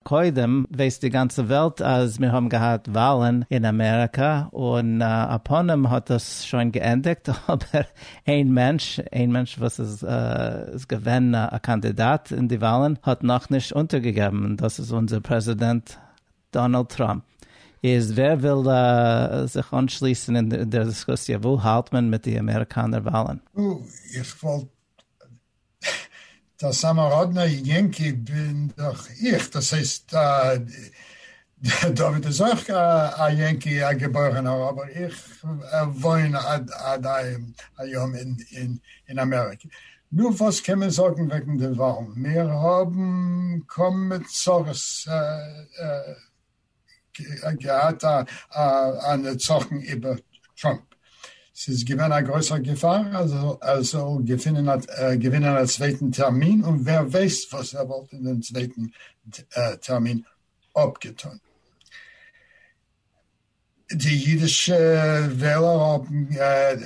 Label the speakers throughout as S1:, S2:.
S1: קודם ווייסט די גאנצע וועלט אז מיר האבן געהאט וואלן אין אמעריקא, און א פנים האט דאס שוין געענדיגט, אבער איין מענטש, איין מענטש וואס איז געווען א קאנדידאט אין די וואלן האט נאכנישט אונטערגעגעבן, און דאס איז אונזער פרעזידענט דאנעלד טראמפ. איז ווער וויל זיך אנשליסן אין דער דיסקוסיע, וואו האלט מען מיט די אמעריקאנער וואלן? נו, איך
S2: וואלט דער סאמאראדנער יענקי בין דאך איך, דאס הייסט דוד איז אויך א יענקי א געבוירענער אבער איך וואוין עד היום אין אמעריקע. נו וואס קען מען זאגן וועגן די וואלן, מיר האבן קוים צרות. געהאט א נצחון איבער טראמפ. ס'איז געווען א גרויסער געפאר אז ער זאל געווינען א צווייטן טערמין, און ווער ווייסט וואס ער וואלט אין דעם צווייטן טערמין אפגעטון. די אידישע וועלער האבן,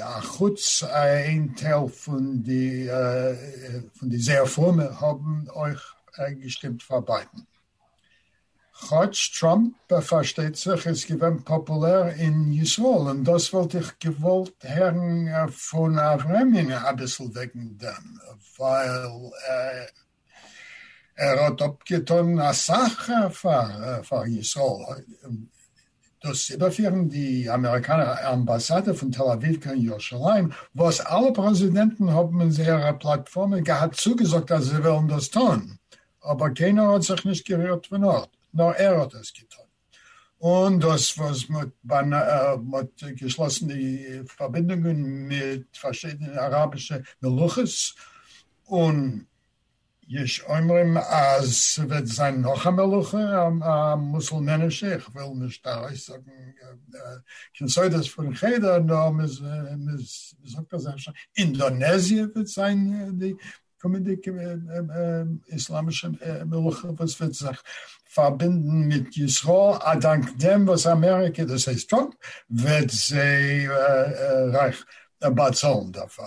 S2: אחוץ איין טייל פון די זייער פרומע, האבן אויך געשטימט פאר ביידן. כאטש טראמפ פארשטייט זיך איז געווען פאפולער אין ישראל און דאס וואלט איך געוואלט הערן פון אברעמינע אביסל וועגן דעם ווייל ער האט אפגעטון אסאך פאר ישראל דאס איבערפירן די אמעריקאנער אמבאסאדע פון תל אביב קיין ירושלים, וואס אלע פרעזידענטן האבן אין זייערע פלאטפארמעס געהאט צוגעזאגט אז זיי וועלן דאס טון, אבער קיינער האט זיך נישט גערירט פון ארט, נאר ער האט דאס געטון, און דאס וואס מען האט געשלאסן די פארבינדונגען מיט פארשידענע אראבישע מלוכות און יש אומרים אז ס'וועט זיין נאך א מלוכה א מוסולמענישע, איך וויל נישט ארויסזאגן קיין סודות פון חדר, נאר מ'זאגט אז אפשר אינדאנעזיע וועט זיין די קומענדיגע איסלאמישע מלוכה וואס וועט זיך פארבינדן מיט ישראל א דאנק דעם וואס אמעריקע, דאס הייסט טראמפ, וועט זיי רייך באצאלן דערפאר.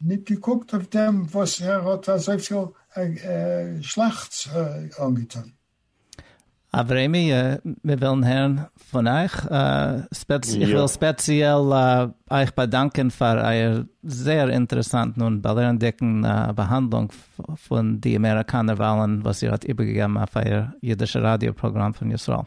S2: ניט געקוקט אויף דעם, וואָס ער האָט אַזויפיל שלעכטס אָנגעטאָן.
S1: אַבֿרהמי, מיר ווילן הערן פֿון אײַך. ספּעציעל, איך וויל ספּעציעל אײַך באַדאַנקען פֿאַר אײַער זייער אינטערעסאַנטן און באַלערנדיקן באַהאַנדלונג פֿון די אַמעריקאַנער וואַלן, וואָס איר האָט איבערגעגעבן אויף אײַער ייִדישער ראַדיאָ-פּראָגראַם פֿון ישׂראל.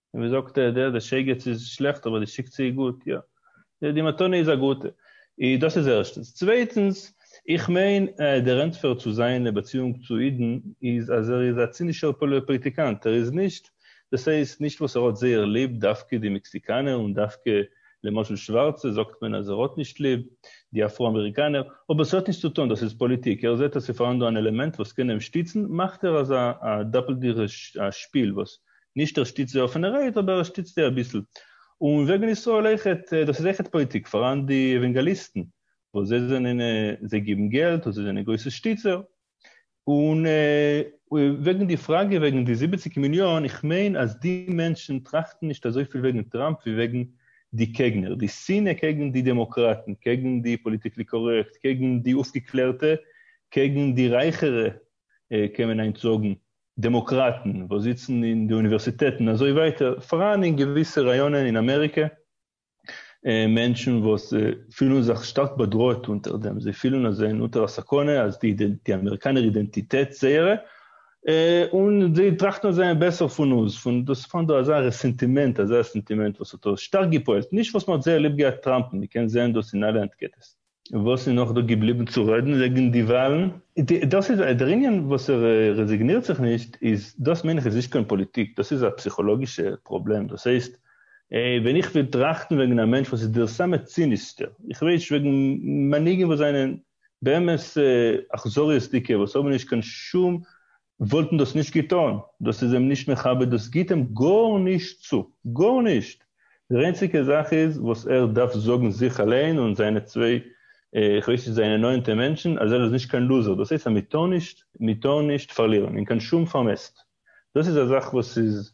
S3: און ווי זאגט ער דער די שייגעץ איז שלעכט אבער די שיקצע איז גוט, יא די די מתנה איז א גוטע, איז דאס איז ערשטענס, צווייטענס איך מיין אז דער ענטפער צו זיינע באציאונג צו אידן איז אז ער איז א צינישער פאליטיקאנט ער איז נישט דאס הייסט נישט וואס ער האט זייער ליב דווקא די מעקסיקאנער און דווקא למשל שווארצע זאגט מען אז ער האט נישט ליב די אפרו אמעריקאנער אבער ס'האט נישט צו טון דאס איז פאליטיק ער זעט אז ס'פארהאן דא אן עלעמענט וואס קען אים שטיצן מאכט ער אזא א דאפלדיגע שפיל וואס נישט ער שטיצט זיי אויף ווען ער רעדט אבער ער שטיצט זיי אביסל. און וועגן ישראל אויכעט, דאס איז אויכעט פאליטיק, פאראן די עווענגעליסטן וואס זיי זענען, זיי גיבן געלט און זיי זענען גרויסע שטיצער. און וועגן די פראגע וועגן די זיבעציק מיליאן, איך מיין אז די מענטשן טראכטן נישט אזויפיל וועגן טראמפ ווי וועגן די קעגנער, די שנאה קעגן די דעמאקראטן, קעגן די פאליטיקלי קארעקט, קעגן די אויפגעקלערטע, קעגן די רייכערע קען מען היינט זאגן, דעמאקראטן וואס זיצן אין די אוניווערסיטעטן אזוי ווייטער פאראן אין געוויסע ראיאנען אין אמעריקע מענטשן וואס פילן זיך שטארק באדראעט אונטער דעם, זיי פילן אז זיי זענען אונטער א סכנה אז די אמעריקאנער אידענטיטעט זייערע און זיי טראכטן אז זיי זענען בעסער פון אונז, פון דאס איז פאראן דא אזא רעסענטימענט, אזא סענטימענט וואס האט שטארק געפועלט, נישט וואס מען האט זייער ליב געהאט טראמפ'ן, מען קען זען דאס אין אלע אנטקעטעס. וואס איז נאך דא געבליבן צו רעדן וועגן די וואלן? דאס איז דער ענין וואס ער רעזיגנירט זיך נישט איז דאס מיין איך איז נישט קיין פאליטיק דאס איז א פסיכאלאגישע פראבלעם דאס הייסט ווען איך וויל טראכטן וועגן א מענטש וואס איז דער סאמע צינישסטער איך רעד נישט וועגן מנהיגים וואס זענען באמת אכזריות'דיגע וואס האבן נישט קיין שום וואלטן דאס נישט געטון, דאס איז אים נישט מכבד דאס גיט אים גארנישט צו, גארנישט! דער איינציגע זאך איז וואס ער דארף זאגן זיך אליין און זיינע צוויי איך ווייס נישט זיינע נאענטע מענטשן אז ער איז נישט קיין לוזער דאס הייסט אז מ'טאר נישט מ'טאר נישט פארלירן אין קיין שום פארמעסט דאס איז א זאך וואס איז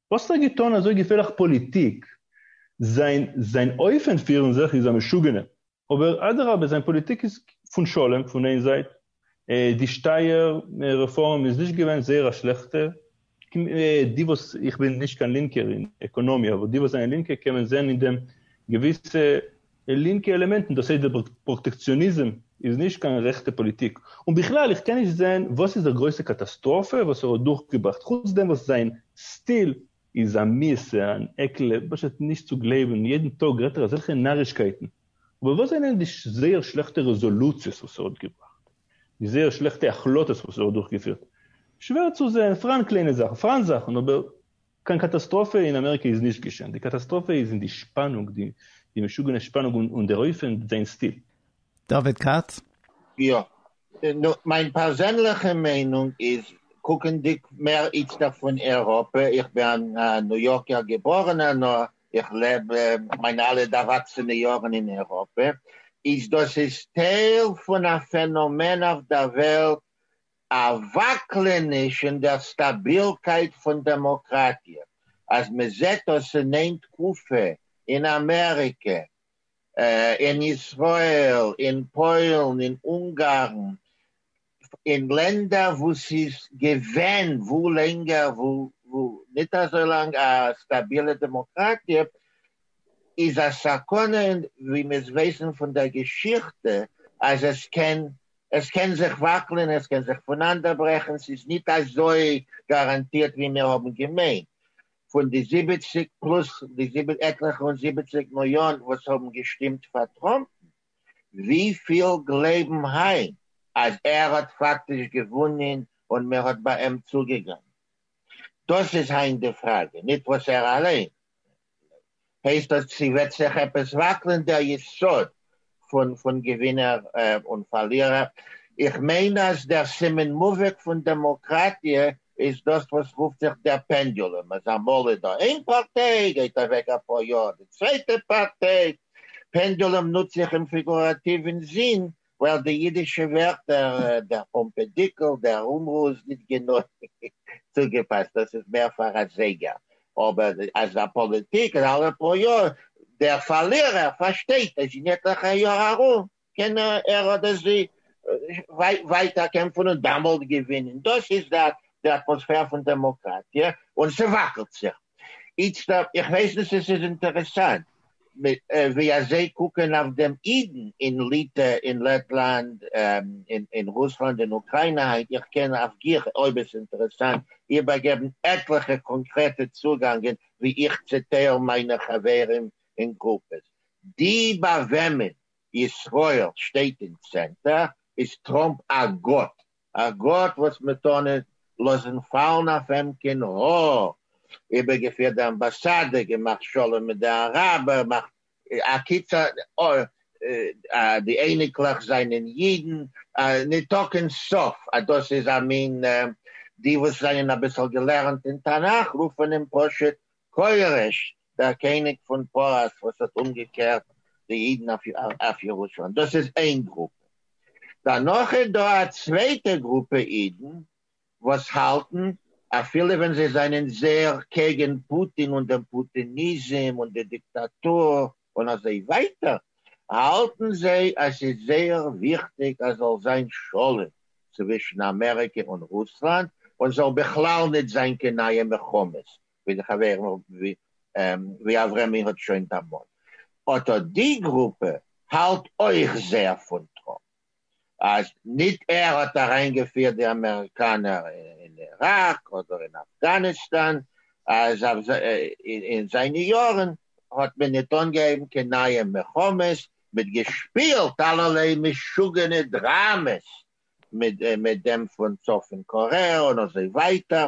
S3: וואס האט ער געטון אזוי געפערליך פאליטיק? זיין זיין אופן פירן זיך איז א משוגענע, אבער אדרבה זיין פאליטיק איז פון שלום פון איין זייט, די שטייער רעפארם איז נישט געווען זייער א שלעכטע, די וואס, איך בין נישט קיין לינקער אין עקאנאמיע, אבער די וואס זענען לינקע קען מען זען אין דעם געוויסע די לינקע עלעמענטן, דאס הייסט די פראטעקציאניזם, איז נישט קיין רעכטע פאליטיק. און בכלל, איך קען נישט זען וואס איז דער גרויסע קאטאסטראפע וואס ער האט דורכגעבראכט, חוץ דעם וואס זיין סטיל איז א מיעסע, אן עקל, פשוט נישט צו גלייבן, יעדן טאג רעדט ער אזעלכע נארישקייטן. אבער וואס זענען די זייער שלעכטע רעזאלוציעס וואס ער האט געבראכט? די זייער שלעכטע החלטות וואס ער האט דורכגעפירט? שווער צו זען, פראן קליינע זאכן, פראן זאכן, אבער קיין קאטאסטראפע אין אמעריקע איז נישט געשען, די קאטאסטראפע איז אין די שפאנונג, די משוגענע שפאנונג און דער אופן זיין סטיל. דוד כץ.
S1: יא.
S4: נו, מיין פערזענליכע מיינונג איז, קוקנדיג מער איצטערט פון אייראפע, איך בין א ניו יארקער געבארענער נאר איך לעב מיינע אלע ערוואקסענע יארן אין אייראפע, איז דאס איז טייל פון א פענאמען אויף דער וועלט, א וואקלעניש אין דער סטאבילקייט פון דעמאקראטיע, אז מען זעט דאס אין איין תקופה אין אמעריקע, אין ישראל, אין פוילן, אין אונגארן, אין לענדער וואו ס'איז געווען וואו לענגער וואו ניט אזוי לאנג א סטאבילע דעמאקראטיע, איז א סכנה, און ווי מיר ווייסן פון דער געשיכטע, אז עס קען עס קען זיך וואקלען, עס קען זיך פונאנדערברעכן, ס'איז ניט אזוי גאראנטירט ווי מיר האבן געמיינט. פון די זיבעציק פלאס די עטליכע און זיבעציק מיליאן וואס האבן געשטימט פאר טראמפ, וויפיל גלייבן היינט אז ער האט פאקטיש געוואונען און מען האט ביי אים צוגעגאנגען? דאס איז היינט די פראגע, ניט וואס ער אליין הייסט אז ס'וועט זיך עפעס וואקלען דער יסוד פון פון געווינער און פארלירער, איך מיין אז דער סימן מובהק פון דעמאקראטיע איז דאס וואס רופט זיך דער פענדולום, אז אמאל איז דא איין פארטיי, גייט אוועק אפאר יאר די צווייטע פארטיי, פענדולום נוץ איך אים פיגוראטיוו אינזין ווייל די אידישע ווערטער, דער פאמפעדיקל, דער רומרא איז ניט גענוי צוגעפאסט, דאס איז מער פאר א זייגער, אבער אז א פאליטיק איז אלע פאר יאר, דער פארלירער פארשטייט אז אין עטליכע יאר ארום קען ער אדער זי ווייטער קעמפן און דאמאלט געווינען. דאס איז דער אטמאספער פון דעמאקראטיע, און ס'וואקלט זיך. איצט אויב, איך ווייס נישט צו ס'איז אינטערעסאנט ווי אזוי קוקען אויף דעם אידן אין ליטע, אין לעטלאנד, אין רוסלאנד, אין אוקריינע היינט, איך קען אויף גיך, אויב עס אינטערעסאנט, איבערגעבן עטליכע קאנקרעטע צוגאנגען ווי איך צעטייל מיינע חברים אין גרופעס. די ביי וועמען ישראל שטייט אין צענטער איז טראמפ א גאט, א גאט וואס מען טאר נישט לאזן פאלן אויף אים קיין האר, איבערגעפירט די אמבאסאדע, געמאכט שלום מיט די אראבער, מאכט א קיצור די אייניקלעך זענען אידן, ניטא קיין סוף אז דאס איז א מין, די וואס זענען אביסל געלערנט אין תנך רופן אים פשוט כורש, דער קעניג פון פרס וואס האט אומגעקערט די אידן אויף ירושלים, דאס איז איין גרופע, דערנאך איז דא א צווייטע גרופע אידן וואס האלטן אפילו ווען זיי זענען זעהר קעגן פוטין און דעם פוטיניזם און די דיקטאטור און אזוי ווייטער, האלטן זיי אז ס'איז זייער וויכטיג אז זאל זיין שלום צווישן אמעריקע און רוסלאנד און זאל בכלל ניט זיין קיין נייע מלחמות ווי די חברים ווי ווי אברמי האט שוין דערמאנט אט אט די גרופע האלט אויך זייער פון טראמפ אז ניט ער האט אריינגעפירט די אמעריקאנער אין איראק אדער אין אפגאניסטאן אז אויף אין זיינע יארן האט מען ניט אנגעהויבן קיין נייע מלחמות מיט געשפילט אלערליי משוגענע דראמעס מיט מיט דעם פון צפון קארעא און אזוי ווייטער.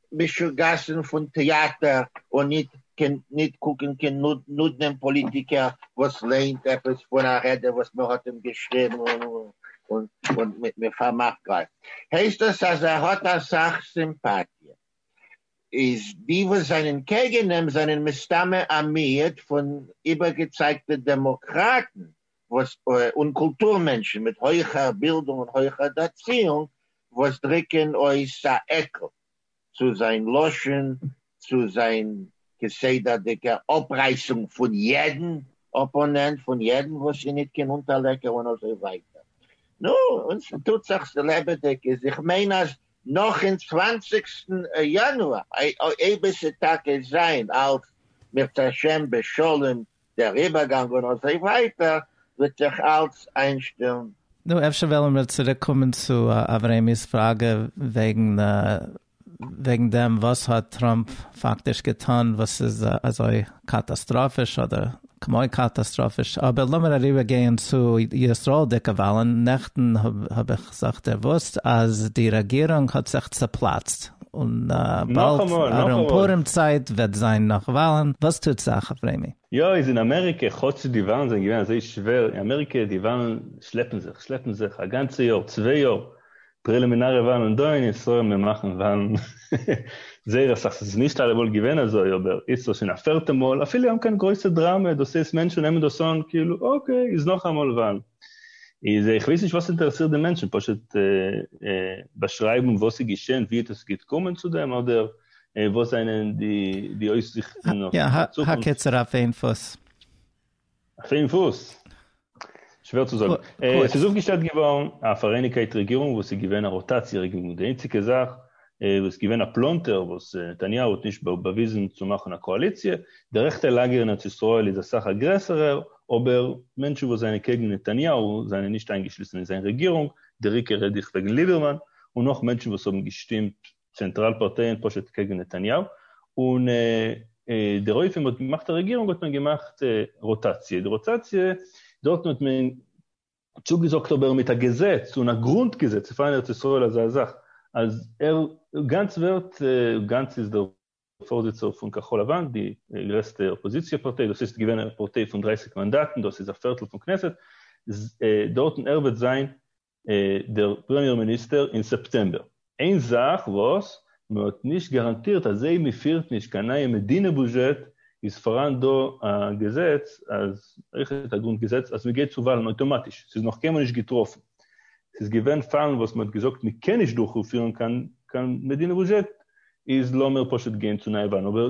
S4: משוגעת'ן פון טעאטער און ניט קען ניט קוקן קיין נודנעם פּאָליטיקער וואָס לערנט עפּעס פון אַ רעדע וואָס מע האָט אים געשריבן און מע פאַרמאַכט גלייך. הייסט דאָס אַז ער האָט אַ סך סימפּאַטיע. איז די וואָס זענען קעגן אים זענען מסתּמא אַ מיעוט פון איבערגעצייגטע דעמאָקראַטן וואס און קולטור מענטשן מיט הויכער בילדונג און הויכער דערציאונג וואס דריקען אויס א עקל צו זיין לשון צו זיין כסדרדיגע אפרייסונג פון יעדן אפאנענט פון יעדן וואס איז ניט קיין אונטערלעקער און אזוי ווייטער נו און ס'טוט זיך ס'לעבעדיג איז איך מיין אז נאך אין צוואנציגסטן יאנואר אויב עס איז טאקע זיין אלס מיר צעשען בשלום דער איבערגאנג און אזוי ווייטער וועט זיך אלץ
S1: איינשטעלן. נו, אפשר וועלן מיר צוריק קומען צו אברעמי'ס פראגע וועגן וועגן דעם וואס האט טראמפ פאקטיש געטון וואס איז אזוי קאטאסטראפיש אדער כמו קאטאסטראפיש, אבער לאמיר אריבער גייען צו ישראל'דיגע וואלן, נעכטן האב איך זיך דערוואוסט אז די רעגירונג האט זיך צעפלאצט, און באלד ארום פורים צייט וועט זיין נאך וואלן, וואס טוט זיך אויף רעמי? יא איז אין אמעריקע
S3: כאטש די וואלן זענען געווען אזוי שווער אין אמעריקע די וואלן שלעפן זיך שלעפן זיך א גאנצע יאר צוויי יאר פרעלימינארע וואלן און דא אין ישראל מיר מאכן וואלן זייער אסאך ס'איז נישט אלעמאל געווען אזוי אבער איצט איז שוין א פערטע מאל אפילו אן קיין גרויסע דראמע דאס הייסט מענטשן נעמען דאס אן כאילו אקעי איז נאכאמאל וואלן. איז איך ווייס נישט וואס אינטערעסירט די מענטשן, פשוט באשרייבן וואס איז געשען, ווי עס איז געקומען צו דעם, אדער וואס זענען די אויסזיכטן אויף די
S1: צוקונפט? יא, האקעצער אויף
S3: איין פוס. אויף איין פוס? שווער צו זאגן. עס איז אויפגעשטעלט געווארן א פאראייניגקייט רעגירונג וואס איז געווען א רוטאציע רעגירונג, די איינציגע זאך וואס געווען א פלאנטער וואס נתניהו האט נישט באוויזן צו מאכן א קאאליציע, די רעכטע לאגער אין ארץ ישראל איז אסאך א גרעסערער, אבער מענטשן וואס זענען קעגן נתניהו זענען נישט איינגעשליסן אין זיין רעגירונג, דער עיקר רעד איך וועגן ליבערמאן, און נאך מענטשן וואס האבן געשטימט צענטראל פארטייען פשוט קעגן נתניהו, און דער אויף וועם מען האט געמאכט א רעגירונג האט מען געמאכט רוטאציע, די רוטאציע דארטן האט מען. צוגעזאגט אבער מיט א געזעץ און א גרונט געזעץ אויף אין ארץ ישראל אזא זאך אז ער גאנץ ווערט גאנץ איז דער פארזיצער פון כחול לבן די גרעסטע אפאזיציע פארטיי דאס איז געווען א פארטיי פון דרײַסיק מאנדאטן דאס איז א פערטל פון כנסת דארטן ער וועט זיין דער פרעמיער מיניסטער אין סעפטעמבער. איין זאך וואס מען האט נישט גאראנטירט אז זייט מען פירט נישט קיין נייע מדינה בוזשעט איז פאראן דא א געזעץ אז אויך א גרונט געזעץ אז מען גייט צו וואלן אויטאמאטיש ס'איז נאך קיינמאל נישט געטראפן ס'איז געווען פאלן וואס מען האט געזאגט מען קען נישט דורכפירן קיין מדינה בוזשעט איז לאמיר פשוט גיין צו נייע וואלן אבער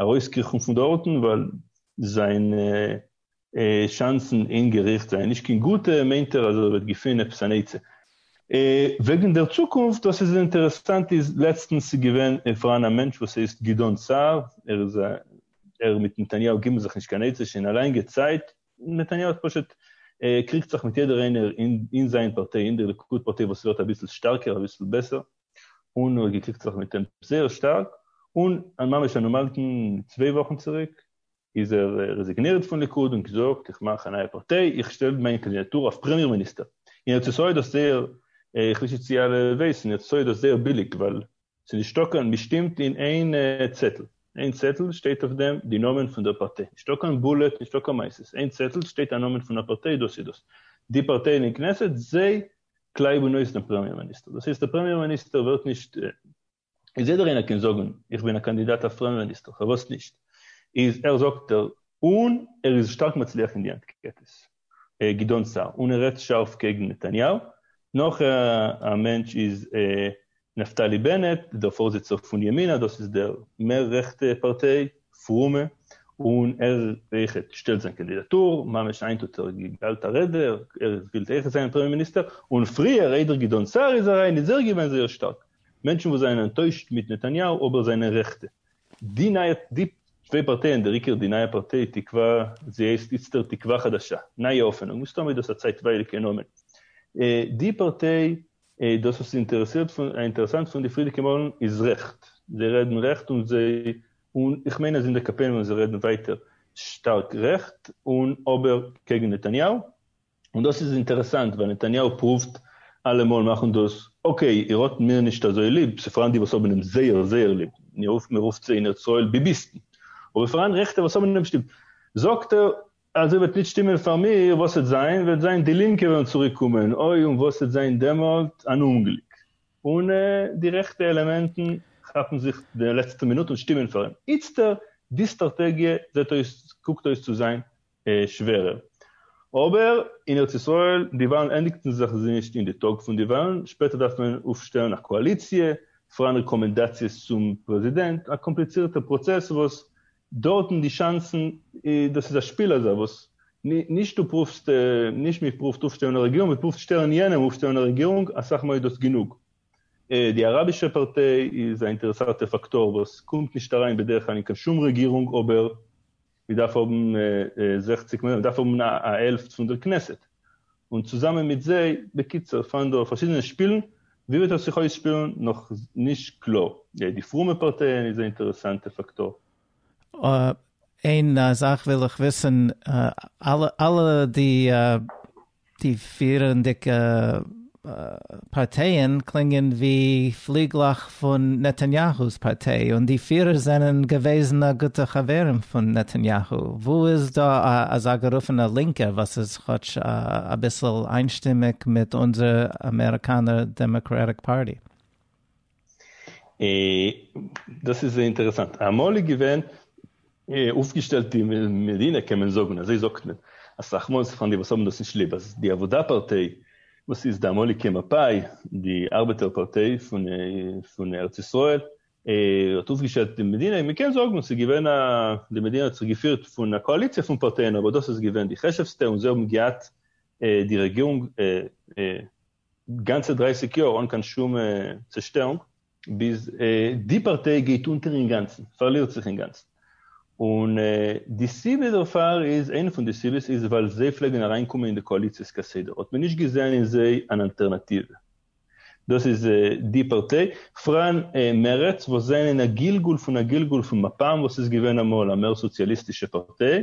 S3: ארויסקריכן פון דארטן ווייל זיינע שאנסן אין געריכט זענען נישט קיין גוטע, מיינט ער אז ער וועט געפינען עפעס אן עצה. וועגן דער צוקונפט, דאס איז אינטערעסאנט איז לעצטנס איז געווען פאראן א מענטש וואס הייסט גדעון סער, ער איז א ער מיט נתניהו גיבן זיך נישט קיין עצה שוין א לאנגע צייט, נתניהו האט פשוט קריגט זיך מיט יעדער איינער אין זיין פארטיי אין דער ליכוד פארטיי וואס ווערט אביסל שטארקער אביסל בעסער, און ער האט געקריגט זיך מיט אים זייער שטארק, און ממש אן אומארטן צוויי וואכן צוריק איז ער רעזיגנירט פון ליכוד און געזאגט איך מאך א נייע פארטיי, איך שטעל מיין קאנדידאטור אויף פרעמיער מיניסטער, און ארץ ישראל האט דאס זייער, איך וויס נישט צי אלע ווייסן, ארץ ישראל האט דאס זייער ביליג ווייל ס'נישטא קיין, מ'שטימט אין איין צעטל, איין צעטל שטייט אויף דעם די נאמען פון דער פארטיי, נישטא קיין בולעט, נישטא קיין מייסעס, איין צעטל שטייט א נאמען פון א פארטיי דאס איז דאס, די פארטייען אין כנסת זיי קלייב און אויך דעם פרעמיער מיניסטער. דאס הייסט דער פרעמיער מיניסטער ווערט נישט, איז יעדער איינער קען זאגן איך בין א קאנדידאט אויף פרעמיער מיניסטער פארוואס נישט איז ער זאגט ער און ער איז שטארק מצליח אין די אנקעטעס גדעון סער און ער רעדט שארף קעגן נתניהו נאך א מענטש איז נפתלי בנט, דער פארזיצער פון ימינה, דאס איז דער מער רעכטע פארטיי, פרומע, און ער אויך שטעלט זיין קאנדידאטור, ממש היינט האט ער געהאלט א רעדע, ער וויל אויך זיין פרעמיער מיניסטער, און פריער איידער גדעון סער איז אריין איז ער געווען זייער שטארק, מענטשן וואס זענען אנטוישט מיט נתניהו אבער זענען רעכטע. די נייע די צוויי פארטייען דער עיקר די נייע פארטיי תקווה זי הייסט איצטערט תקווה חדשה, נייע האפענונג, מסתמא איז דאס א צייטווייליגע נאמען, די פארטיי איי דאס וואס איז אינטערעסאנט פון די פריערדיגע מאלן איז רעכט, זיי רעדן רעכט און זיי, און איך מיין אז אין די קאפען וועלן זיי רעדן ווייטער שטארק רעכט און אבער קעגן נתניהו, און דאס איז אינטערעסאנט ווייל נתניהו פרואווט אלעמאל מאכן דאס אקעי איר האט מיר נישט אזוי ליב, ס'פאראן די וואס האבן אים זייער זייער ליב, מ'רופט זיי אין ארץ ישראל ביביסטן, אבער ס'פאראן רעכטע וואס האבן אים נישט ליב, זאגט ער אזוי וועט ניט שטימען פאר מיר, וואס וועט זיין? וועט זיין די לינקע וועלן צוריק קומען, אוי און וואס וועט זיין דעמאלט, אן אומגליק, און די רעכטע עלעמענטן כאפן זיך די לעצטע מינוט און שטימען פאר אים. איצטער, די סטראטעגיע זעט אויס, קוקט אויס צו זיין שווערער. אבער אין ארץ ישראל, די וואלן ענדיגטן זיך נישט אין די טאג פון די וואלן, שפעטער דארף מען אויפשטעלן א קאאליציע, פארן רעקאמענדאציעס צום פרעזידענט, א קאמפליצירטע פראצעס וואס דארטן די שאנסן, דאס איז א שפיל אזוי וואס נישט דו פרובסט, נישט מען פרובט אויפשטעלן א רעגירונג, מען פרובט שטעלן יענעם אויפשטעלן א רעגירונג, אסאך מאל איז דאס גענוג. די אראבישע פארטיי איז א אינטערעסאטע פאקטאר וואס קומט נישט אריין בדרך כלל אין קיין שום רעגירונג אבער מען דארף האבן זעכציק מען דארף האבן א העלפט פון דער כנסת און צוזאמען מיט זיי, בקיצור פארן דא פארשידענע שפילן, ווי וועט עס זיך אויסשפילן נאך נישט קלאר, גיי די פרומע פארטייען איז א אינטערעסאנטע פאקטאר. איין
S1: זאך וויל איך וויסן, אלע די פירענדיגע. פארטייען קלינגען ווי פליגלעך פון נתניהו'ס פארטיי און די פירער זענען געוועזענע גוטע חברים פון נתניהו, וואו איז דא א אזא גערופענע לינקער וואס איז כאטש אביסל איינשטימיג מיט אונזער אמעריקאנער דעמאקרעטיק פארטי?
S3: דאס איז אינטערעסאנט, אמאל איז געווען אויפגעשטעלט די מדינה קען מען זאגן, אזוי זאגט מען, אסאך מאל פאר די וואס האבן דאס נישט ליב, אז די עבודה פארטיי וואס איז די אמאליגע מפאי, די ארבעטער פארטיי פון ארץ ישראל, האט אויפגעשטעלט די מדינה, מען קען זאגן ס'איז געווען א, די מדינה האט זיך געפירט פון א קאאליציע פון פארטייען אבער דאס איז געווען די חשוב'סטע און זיי האבן געהאט די רעגירונג גאנצע דרייסיג יאר אן קיין שום צעשטערונג. ביז די פארטיי גייט אונטער אינגאנצן, פארלירט זיך אינגאנצן. און די סיבה דערפאר איז, איינע פון די סיבות איז ווייל זיי פלעגן אריינקומען אין די קאאליציעס כסדר, האט מען נישט געזען אין זיי אן אלטערנאטיווע. דאס איז די פארטיי. פראן מרצ וואס זענען א גלגול פון א גלגול פון מפאם וואס איז געווען אמאל א מער סאציאליסטישע פארטיי,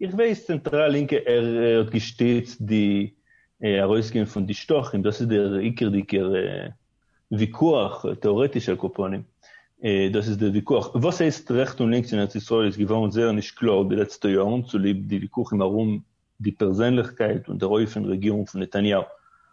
S3: איך ווייס צענטראל לינקע ער האט געשטיצט די ארויסגיין פון די שטחים דאס איז דער עיקרדיגער וויכוח טעארעטיש על כל פנים דאס איז דער וויכוח וואס הייסט רעכט און לינקס אין ארץ ישראל איז געווארן זייער נישט קלאר די לעצטע יארן צוליב די וויכוחים ארום די פערזענליכקייט און דער אופן רעגירונג פון נתניהו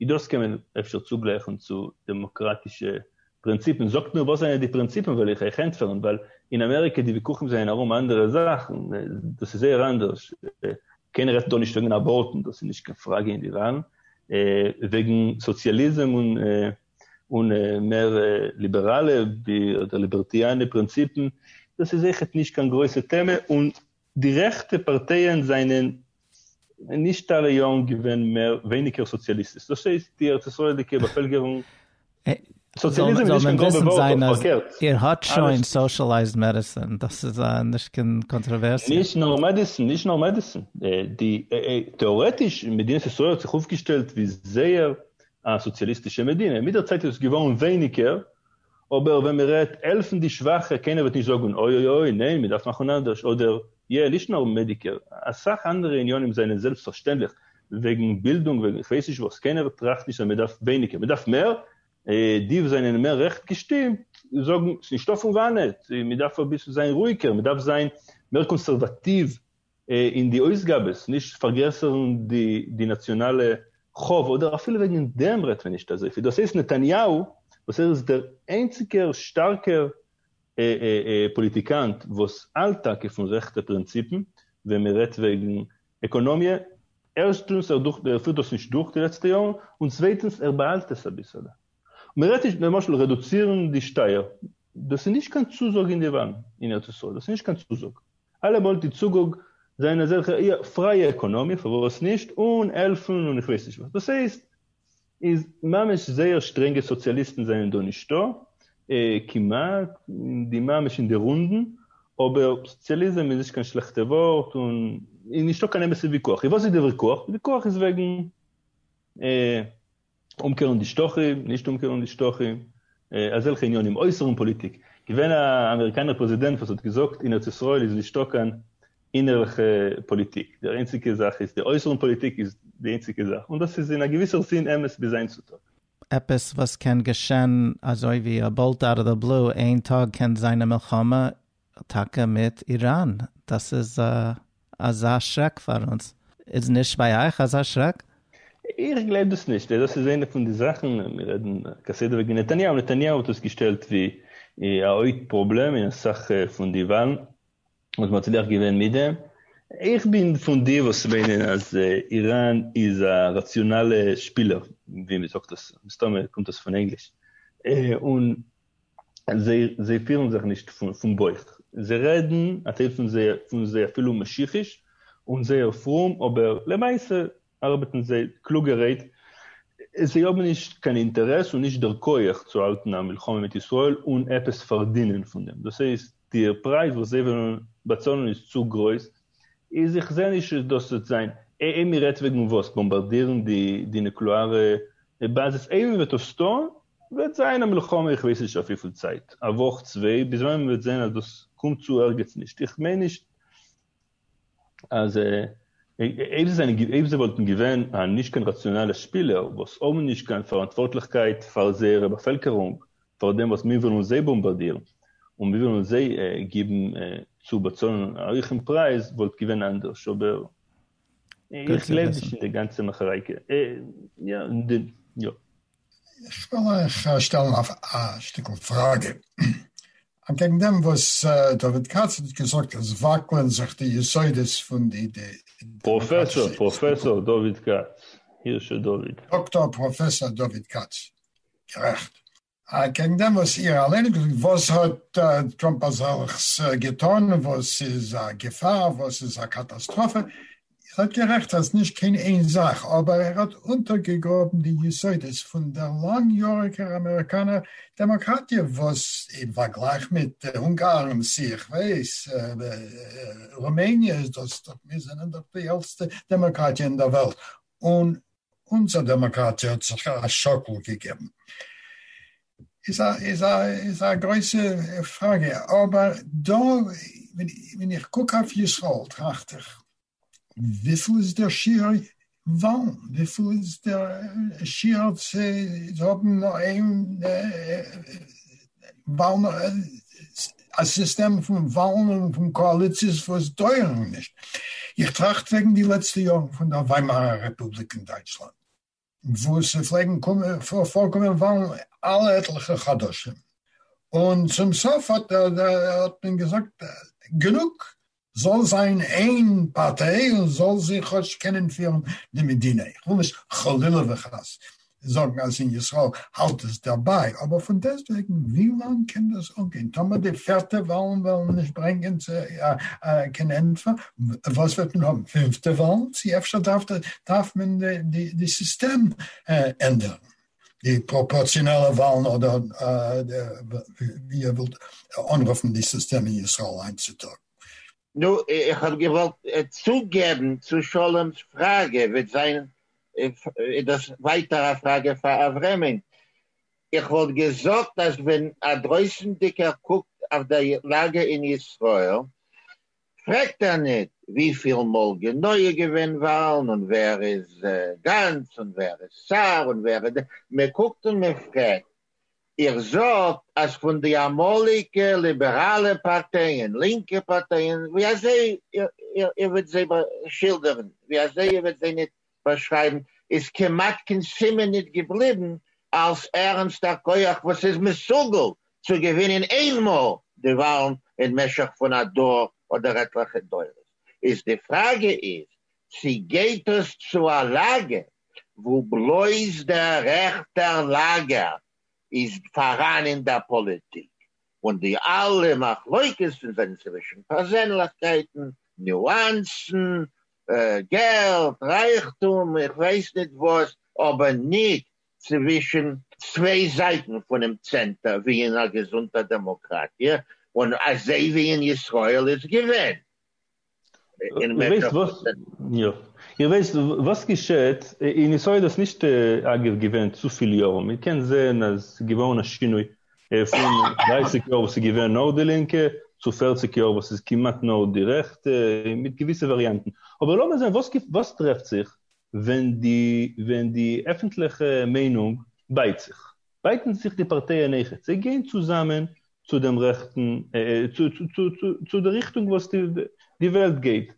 S3: און דאס קען מען אפשר צוגלייכן צו דעמאקראטישע פרינציפן. זאגט נאר וואס זענען די פרינציפן וועל איך אייך ענטפערן, ווייל אין אמעריקע די וויכוחים זענען ארום אנדערע זאכן, דאס איז זייער אנדערש, קיינער רעדט דא נישט וועגן אבארטן, דאס איז נישט קיין פראגע אין די וואלן, וועגן סאציאליזם און מער ליבעראלע אדער ליבערטיאנע פרינציפן, דאס איז אויכעט נישט קיין גרויסע טעמע, און די רעכטע פארטייען זענען נישט אלע יארן געווען מער ווייניגער סאציאליסטיש, דאס הייסט די ארץ ישראל'דיגע באפעלקערונג, סאציאליזם איז נישט קיין גראבע ווארט אויף פארקערט, איר האט שוין
S1: סאושעלייזד מעדיסען, דאס איז נישט קיין קאנטראווערסיע. נישט נאר מעדיסען,
S3: נישט נאר מעדיסען, די, טעארעטיש, מדינת ישראל האט זיך אויפגעשטעלט ווי זייער א סאציאליסטישע מדינה, מיט דער צייט איז עס געווארן ווייניגער אבער ווען מען רעדט העלפן די שוואכע קיינער וועט נישט זאגן אוי אוי אוי ניין מען דארף מאכן אנדערש אדער יע נישט נאר מעדיקעיר אסאך אנדערע עניינים זענען זעלבסט פארשטענדליך וועגן בילדונג וועגן איך ווייס נישט וואס קיינער טראכט נישט אז מען דארף ווייניגער מען דארף מער די וואס זענען מער רעכט געשטימט זאגן ס'איז נישטא פון וואנעט מען דארף אביסל זיין רואיגער מען דארף זיין מער קאנסערוואטיוו אין די אויסגאבעס, נישט פארגרעסערן די נאציאנאלע חוב, אדער אפילו וועגן דעם רעדט מען נישט אזויפיל, דאס הייסט נתניהו וואס ער איז דער איינציגער שטארקער פאליטיקאנט וואס האלט טאקע פון רעכטע פרינציפן ווען מען רעדט וועגן עקאנאמיע, ערשטנס ער פירט דאס נישט דורך די לעצטע יארן, און צווייטנס ער באהאלט עס אביסעלע. מען רעדט נישט למשל רעדוצירן די שטייער, דאס איז נישט קיין צוזאג אין די וואלן אין ארץ ישראל, דאס איז נישט קיין צוזאג. אלעמאל די צוגאג זיין אזעלכע איא פרייע עקאנאמיע פארוואס נישט אן העלפן און איך ווייס נישט וואס דאס הייסט איז ממש זייער שטרענגע סאציאליסטן זענען דא נישטא כמעט אין די ממש אין די רונדן אבער סאציאליזם איז נישט קיין שלעכטע ווארט און איז נישטא קיין אמת'ע וויכוח איז וואס איז די וויכוח די וויכוח איז וועגן אומקערן די שטחים, נישט אומקערן די שטחים, אזעלכע עניינים, אויסערן פאליטיק, געווען א אמעריקאנער פרעזידענט וואס האט געזאגט אין ארץ ישראל איז נישטא קיין אינערליכע פאליטיק, די איינציגע זאך איז די אויסערן פאליטיק איז די איינציגע זאך, און דאס איז אין א געוויסער זין אמת ביז היינט צו טאג. עפעס וואס
S1: קען געשען אזוי ווי א בולט אוט אוו די בלו איין טאג קען זיין א מלחמה טאקע מיט איראן, דאס איז אזא שרעק פאר אונז, איז נישט ביי אייך אזא שרעק? איך גלייב
S3: דאס נישט, דאס איז איינע פון די זאכן, מיר רעדן כסדר וועגן נתניהו, נתניהו האט דאס געשטעלט ווי א הויפט פראבלעם אין אסאך פון די וואלן, וואס מען האט צולעך געווען מיט דעם, איך בין פון די וואס מיינען אז איראן איז א ראציאנאלע שפילער, ווי מען זאגט דאס, מסתמא קומט דאס פון ענגליש, און זיי פירן זיך נישט פון בויך, זיי רעדן א טייל פון זיי אפילו משיחיש און זייער פרום אבער למעשה ארבעטן זיי קלוגערהייט, זיי האבן נישט קיין אינטערעס און נישט דער כח צו האלטן א מלחמה מיט ישראל און עפעס פארדינען פון דעם, דאס הייסט די פרייז וואס זיי וועלן באצאלן איז צו גרויס, איז איך זעה נישט אז דאס וועט זיין, איי מען רעדט וועגן וואס? באמבארדירן די נוקלעארע באזעס, איי מען וועט עס טון וועט זיין א מלחמה איך ווייס נישט אויף וויפיל צייט, א וואך צוויי, ביז ווען מען וועט זען אז דאס קומט צו ערגעץ נישט, איך מיין נישט אז אויב זיי וואלטן געווען א נישט קיין ראציאנאלע שפילער וואס האבן נישט קיין פאראנטווארטליכקייט פאר זייערע באפעלקערונג פאר דעם וואס מיר ווילן זיי באמבארדירן און מיר ווילן זיי גיבן צו באצאלן א הויכן פרייז וואלט געווען אנדערש אבער איך גלייב נישט אין די גאנצע מאכערייקע.
S2: איך וויל אייך שטעלן א שטיקל פראגע, אנקעגן דעם וואס דוד כץ האט געזאגט אז וואקלען זיך די יסודות פון די דעמאקראטישע אינסטיטוציעס. דאקטאר
S3: פראפעסאר
S2: דוד
S3: כץ, גערעכט.
S2: אנקעגן דעם וואס איר אליין האט געזאגט, וואס האט טראמפ אזעלכס געטאן וואס איז א געפאר, וואס איז א קאטאסטראפע, ער האט גערעכט אז נישט קיין איין זאך, אבער ער האט אונטערגעגראבן די יסודות פון דער לאנג יאריגער אמעריקאנער דעמאקראטיע וואס אין פארגלייך מיט אונגארן צו איך ווייס רומעניע איז דאס דאך מיר זענען דאך די עלטסטע דעמאקראטיע אין דער וועלט און אונזער דעמאקראטיע האט זיך א שאקל געגעבן איז א גרויסע פראגע, אבער דא ווען איך קוק אויף ישראל טראכט איך וויפיל איז דער שיעור וואלן? וויפיל איז דער שיעור צו האבן נאר איין וואלן, א סיסטעם פון וואלן און פון קאאליציעס וואס דויערן נישט. איך טראכט וועגן די לעצטע יארן פון דער וויימארער רעפובליק אין דייטשלאנד, וואו ס'פלעגן פארקומען וואלן אלע עטליכע חדשים, און צום סוף האט מען געזאגט גענוג, זאל זיין איין פארטיי און זאל זי כאטש קענען פירן די מדינה, איך וויל נישט חלילה וחס זאגן אז אין ישראל האלט עס דערביי, אבער פון דעסטוועגן ווי לאנג קען דאס אנגיין טאמער די פערטע וואלן וועלן נישט ברענגען קיין ענטפער, וואס וועט מען האבן פינפטע וואלן, צו אפשר דארף מען די סיסטעם ענדערן. די פראפארציאנעלע וואלן אדער ווי איר ווילט אנרופן די סיסטעם אין ישראל היינט צו טאג. נו,
S4: איך האב געוואלט צוגעבן צו שלום'ס פראגע, וועט זיין איז דאס ווייטער א פראגע פאר אברעמען, איך וואלט געזאגט אז ווען א דרויסענדיגער קוקט אויף די לאגע אין ישראל, פרעגט ער ניט וויפיל מאל גענוי געווען וואלן און ווער איז גאנץ און ווער איז סער און ווער איז, מען קוקט און מען פרעגט. איר זאגט אז פון די אמאליגע ליבעראלע פארטייען, לינקע פארטייען, ווי אזוי איר וועט זיי שילדערן, ווי אזוי איר וועט זיי ניט באשרייבן איז כמעט קיין סימן ניט געבליבן אלס ערנסטע כח וואס איז מסוגל צו געווינען איין מאל די וואלן אין משך פון א דור אדער עטליכע דורות, איז די פראגע איז צי גייט עס צו א לאגער וואו בלויז דער רעכטער לאגער איז פאראן אין דער פאליטיק און די אלע מחלוקת'ן זענען צווישן פערזענליכקייטן, ניואנסן, געלט, רייכטום, איך ווייס ניט וואָס, אָבער ניט צווישן צוויי זייטן פֿונעם צענטער, ווי אין אַ געזונטער דעמאָקראַטיע און אַזוי ווי אין ישׂראל איז געווען אין משך
S3: איר ווייסט וואָס געשעט? אין ישׂראל איז נישט, אַגבֿ, געווען צו פֿיל יאָרן. מע קען זען, אַז ס'איז געוואָרן אַ שינוי. ער איז פון דרייסיג יאר וואס איז געווען נאר די לינקע, צו פערציג יאר וואס איז כמעט נאר די רעכטע, מיט געוויסע וואריאנטן. אבער לאמיר זען וואס וואס טרעפט זיך ווען די ווען די עפנטליכע מיינונג בייט זיך. בייטן זיך די פארטייען אויכעט, זיי גייען צוזאמען צו דעם רעכטן, צו צו צו צו די ריכטונג וואס די וועלט גייט.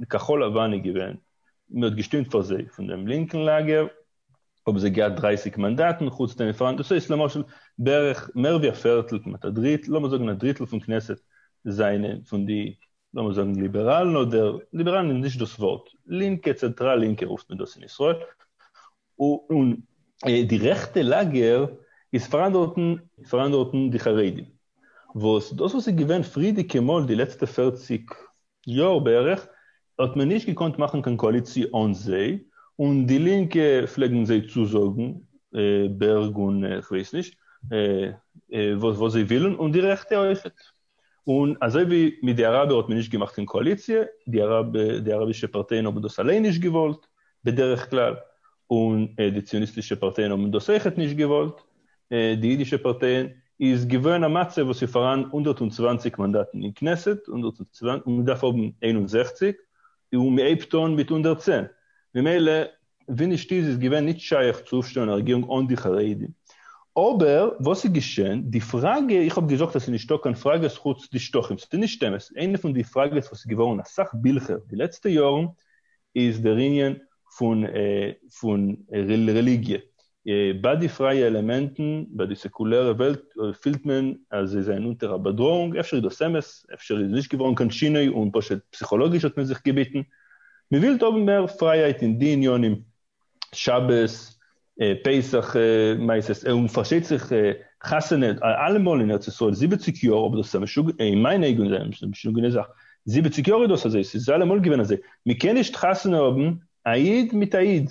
S3: די כחול לבן איז געווען, מען האט געשטימט פאר זיי פון דעם לינקן לאגער, האבן זיי געהאט דרײַסיק מאנדאטן, חוץ דעם פארנט, דאס הייסט למשל בערך מער ווי א פערטל, כמעט א דריטל, לאמיר זאגן א דריטל פון כנסת זענען פון די, לאמיר זאגן ליבעראלן אדער, ליבעראלן איז נישט דאס ווארט, לינקע, צענטראל לינקע רופט מען דאס אין ישראל, און די רעכטע לאגער איז פאראן דארטן, איז פאראן דארטן די חרדים, וואס דאס וואס איז געווען פריערדיגע מאל די לעצטע פֿערציק יאר בערך האט מען נישט געקאנט מאכן קיין קאליציע אן זיי, און די לינקע פלעגן זיי צוזאגן בערג און כ'ווייס נישט וואס זיי ווילן, און די רעכטע אויכעט. און אזוי ווי מיט די אראבער האט מען נישט געמאכט קיין קאליציע, די אראבישע פארטייען האבן דאס אליין נישט געוואלט בדרך כלל, און די ציוניסטישע פארטייען האבן דאס אויכעט נישט געוואלט, די אידישע פארטייען איז געווען א מצב וואס איז פאראן הונדערט און צוואַנציק מאנדאטן אין כנסת און מען דארף האבן איין און זעכציק און מען הייבט אן מיט הונדערט צען ממילא ווי נישט איז איז געווען נישט שייך צו אויפשטעלן א רעגירונג אן די חרדים אבער וואס איז געשען די פראגע איך האב געזאגט אז ס'איז נישטא קיין פראגעס חוץ די שטחים ס'איז נישט אמת איינע פון די פראגעס וואס איז געווארן אסאך בילכער די לעצטע יארן איז דער ענין פון רעליגיע. ביי די פרייע עלעמענטן, ביי די סעקולערע וועלט, פילט מען אז זיי זענען אונטער א באדראעונג, אפשר איז דאס אמת, אפשר איז נישט געווארן קיין שינוי און פשוט פסיכאלאגיש האט מען זיך געביטן, מען וויל האבן מער פרייהייט אין די ענינים. שבת פסח מעשה'ס און פארשטייט זיך חתונה אלעמאל אין ארץ ישראל זיבעציק יאר אבער דאס איז א משוגע אין מיינע אויגן איז דאס א משוגענע זאך זיבעציק יאר איז דאס אזוי ס'איז אלעמאל געווען אזוי מ'קען נישט חתונה האבן א איד מיט א איד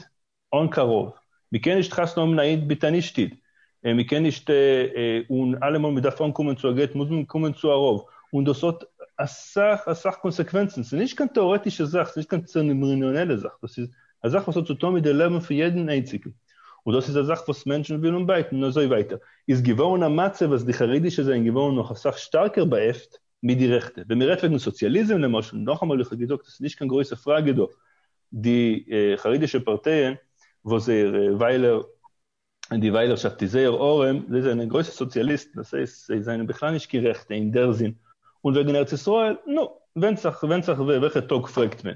S3: אן קרוב מ'קען נישט חתונה האבן א איד מיט א נישט איד און מ'קען נישט און אלעמאל מ'דארף אנקומען צו א גט מוז מען קומען צו א רב און דאס האט אסאך אסאך קאנסעקווענצן ס'איז נישט קיין טעארעטישע זאך ס'איז נישט קיין צערעמאניעלע זאך דאס איז א זאך וואס האט צו טון מיט די לעבן פון יעדן איינציגן, און דאס איז א זאך וואס מענטשן ווילן בייטן און אזוי ווייטער, איז געווארן א מצב אז די חרדישע זענען געווארן נאך אסאך שטארקער באעפט מיט די רעכטע, ווען מען רעדט וועגן סאציאליזם למשל, נאכאמאל איך האב געזאגט עס איז נישט קיין גרויסע פראגע דא, די חרדישע פארטייען וואס זייער וויילער און די וויילערשאפט איז זייער ארעם, זיי זענען גרויסע סאציאליסטן, דאס הייסט זיי זענען בכלל נישט קיין רעכטע אין דער זין, און וועגן ארץ ישראל, נו, ווענדט זיך ווענדט זיך וועלכע טאג פרעגט מען,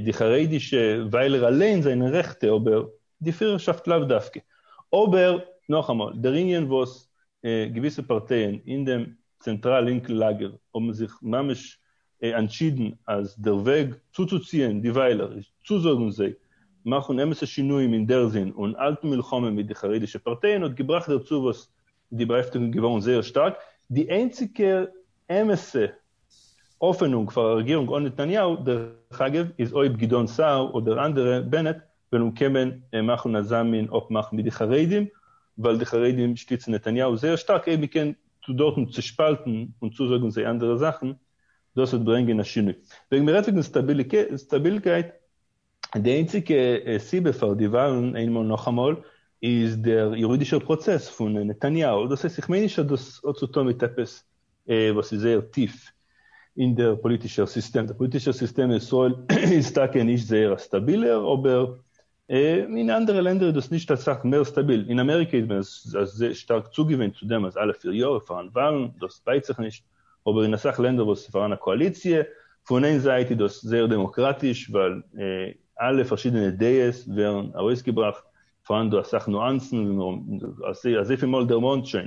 S3: די חרדישע וויילער אליין זענען רעכטע אבער די פירערשאפט לאו דווקא, אבער נאכאמאל, דער ענין וואס געוויסע פארטייען אין דעם צענטראל לינקן לאגער האבן זיך ממש אנטשידן אז דער וועג צוצוציען די וויילער איז צוזאגן זיי מאכן אמת'ע שינויים אין דער זין און האלטן מלחמה מיט די חרדישע פארטייען האט געבראכט דערצו וואס די באהעפטונג איז געווארן זייער שטארק. די איינציגע אמת'ע האפענונג פאר א רעגירונג אן נתניהו דרך אגב איז אויב גדעון סער אדער אנדערע, בנט, וועלן קומען און מאכן אזא מין אפמאך מיט די חרדים, ווייל די חרדים שטיצן נתניהו זייער שטארק, אויב מ'קען דארטן צושפאלטן און צוזאגן זיי אנדערע זאכן, דאס וועט ברענגען א שינוי. וועגן מ'רעדט וועגן סטאבילקייט, די איינציגע סיבה פאר די וואלן איינמאל נאכאמאל, איז דער יורידישער פראצעס פון נתניהו, דאס הייסט איך מיין נישט אז דאס האט צו טון מיט עפעס וואס איז זייער טיף אין דער פאליטישער סיסטעם, דער פאליטישער סיסטעם אין ישראל איז טאקע נישט זייער א סטאבילער, אבער אין אנדערע לענדער איז דאס נישט אסאך מער סטאביל, אין אמעריקע איז מען זייער שטארק צוגעוואינט צו דעם אז אלע פיר יאר איז פארהאן וואלן, דאס בייט זיך נישט, אבער אין אסאך לענדער וואס איז פארהאן א קאאליציע, פון איין זייט איז דאס זייער דעמאקראטיש ווייל אלע פארשידענע דעות ווערן ארויסגעבראכט, פארהאן דא אסאך נואנסן ווי מיר האבן אזויפיל מאל דערמאנט שוין,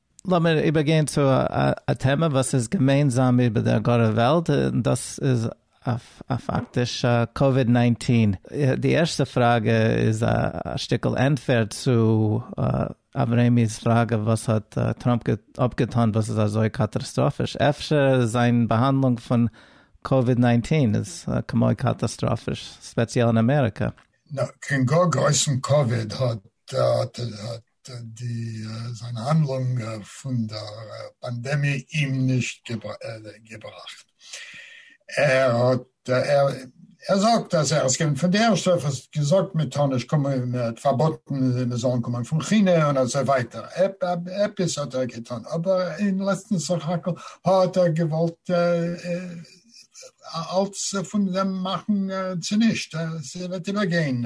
S3: לאמיר איבערגיין
S1: צו א טעמע וואס איז געמיינזאם איבער דער גארער וועלט, און דאס איז פאקטיש קאוויד נײַנצן. די ערשטע פראגע איז א שטיקל ענטפער צו אברעמי'ס פראגע, וואס האט טראמפ אפגעטאן וואס איז אזוי קאטארסטראפיש? אפשר זיין באהאנדלונג פון קאוויד נײַנצן איז כמו קאטאסטראפיש, ספעציעל אין אמעריקע. נאר קען גאר
S2: גרויסן קאוויד האט די זיין האנדלונג פון דער פאנדעמיע אים נישט געבראכט. ער האט ער זאגט אז ער איז געווען פון די ערשטע וואס האט געזאגט מען טאר נישט קומען, מען האט פארבאטן מען זאלן קומען פון כינע און אזוי ווייטער, עפעס האט ער געטון, אבער אין לעצטן סך הכל האט ער געוואלט אלץ פון דעם מאכן צונישט, עס וועט איבערגיין,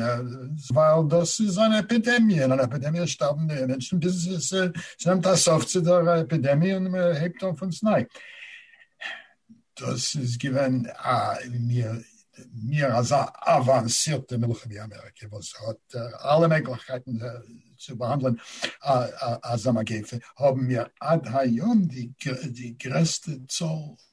S2: ווייל דאס איז אן עפידעמיע, און אן עפידעמיע שטארבן די מענטשן ביז עס נעמט א סוף צו דער עפידעמיע און מען הייבט אן פון סניי. דאס איז געווען א מיר אזא אוואנסירטע מלחמה ווי אמעריקע וואס האט אלע מעגליכקייטן צו באהאנדלען אזא מגיפה, האבן מיר עד היום די גרעסטע צאל.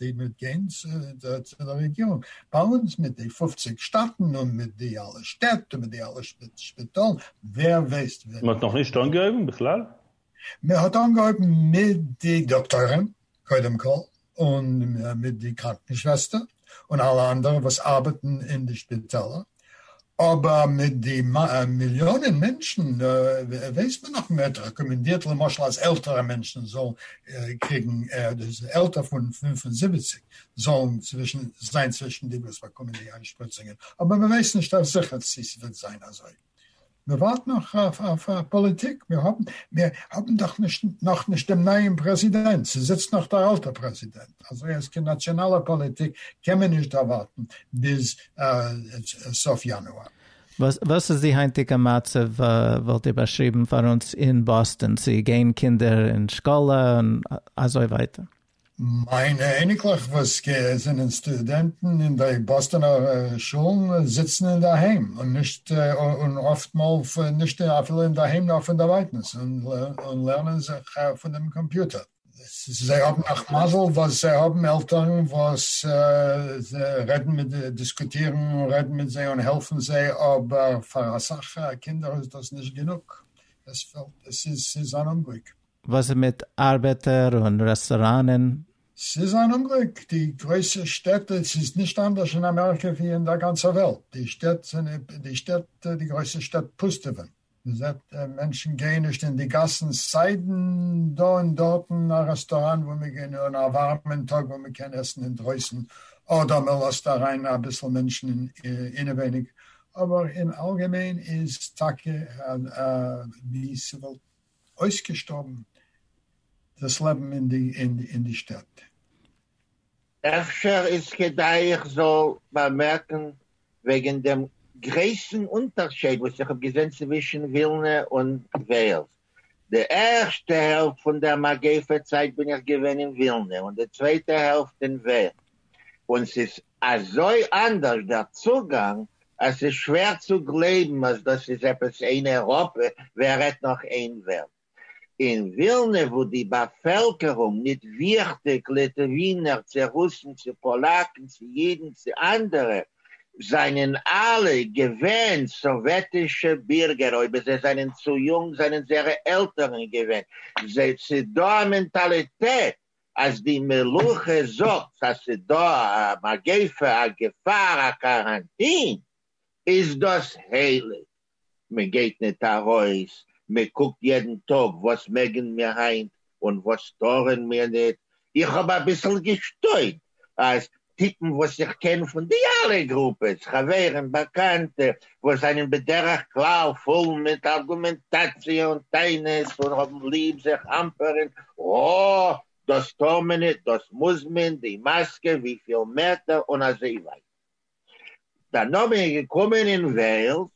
S2: די מיט גיין צו די רעגירונג באלאנס מיט די פופציג שטאטן און מיט די אלע שטעט און מיט די אלע שפיטאלן ווער וועסט ווען. מ'האט נאך נישט אנגעהויבן
S3: בכלל? מען האט
S2: אנגעהויבן מיט די דאקטוירים קודם כל און מיט די קראנקן שוועסטער און אלע אנדערע וואס ארבעטן אין די שפיטעלער. אבער מיט די מיליאנען מענטשן ווייסט מען נאך מ'העט רעקאמענדירט למשל אז עלטערע מענטשן זאלן קריגן עלטער פון פֿינף און זיבעציק זאלן צווישן זיין צווישן די וואס באקומען די איינשפריצונגען אבער מ'ווייסט נישט אויף זיכער צו ס'וועט זיין אזוי מען ווארט נאך אויף א פאליטיק, מיר האבן מיר האבן דאך נישט נאך נישט דעם נייעם פרעזידענט, ס'זיצט נאך דער אלטער פרעזידענט, אזוי אז קיין נאציאנאלע פאליטיק קען מען נישט דערווארטן ביז סוף יאנואר. וואס איז די
S1: היינטיגע מצב וואלט איר באשריבן פאר אונז אין באסטאן, צו גייען קינדער אין שקאלע און אזוי ווייטער? מיינע
S2: אייניקלעך וואס זענען סטודענטן אין די באסטאנער שולן זיצן אינדערהיים און נישט און אפט מאל נישט אפילו אינדערהיים נאר פונדערווייטנס און לערנען זיך פון דעם קאמפיוטער. זיי האבן נאך מזל וואס זיי האבן עלטערן וואס רעדן מיט זיי, דיסקוטירן און רעדן מיט זיי און העלפן זיי, אבער פאר אסאך קינדער איז דאס נישט גענוג, עס איז אן אומגליק. וואס איז מיט
S1: ארבעטער און רעסטאראנען? ס'איז אן
S2: אומגליק, די גרויסע שטעט, ס'איז נישט אנדערש אין אמעריקע ווי אין דער גאנצער וועלט, די שטעט זענען, די שטעט, די גרויסע שטעט פוסטעווען, מען זעט מענטשן גייען נישט אין די גאסן, סיידן דא און דארטן א רעסטאראן וואו מען גייט און א ווארעמען טאג וואו מען קען עסן אינדרויסן אדער מען לאזט אריין אביסל מענטשן אינעווייניג, אבער אין אלגעמיין איז טאקע ווי ס'וויל אויסגעשטארבן דאס לעבן אין די שטעט. אפשר
S4: איז כדאי איך זאל באמערקן וועגן דעם גרעסן אונטערשייד וואס איך האב געזען צווישן ווילנע און וועלס. די ערשטע העלפט פון דער מגיפה צייט בין איך געווען אין ווילנע און די צווייטע העלפט אין וועלס, און ס'איז אזוי אנדערש דער צוגאנג אז ס'איז שווער צו גלייבן אז דאס איז עפעס אין אייראפע ווער רעדט נאך אין וועלט. אין ווילנע וואו די באפעלקערונג, ניט וויכטיג ליטווינער צו רוסן צו פאלאקן צו יידן צו אנדערע, זענען אלע געווען סאוועטישע בירגער, אויב זיי זענען צו יונג זענען זייערע עלטערן געווען, ס'איז דא א מענטאליטעט אז די מלוכה זאגט אז ס'איז דא א מגיפה, א געפאר, א קאראנטין, איז דאס הייליג, מ'גייט ניט ארויס, מ'קוקט יעדן טאג וואס מעגן מיר היינט און וואס טארן מיר ניט, איך האב אביסל געשטוינט אז טיפן וואס איך קען פון די אלע גרופעס, חברים, באקאנטע, וואס זענען בדרך כלל פול מיט ארגומענטאציע און טענות און האבן ליב זיך אמפערן, אה, דאס טאר מען ניט, דאס מוז מען, די מאסקע, וויפיל מעטער, און אזוי ווייטער. דאן האב איך געקומען אין וועלס,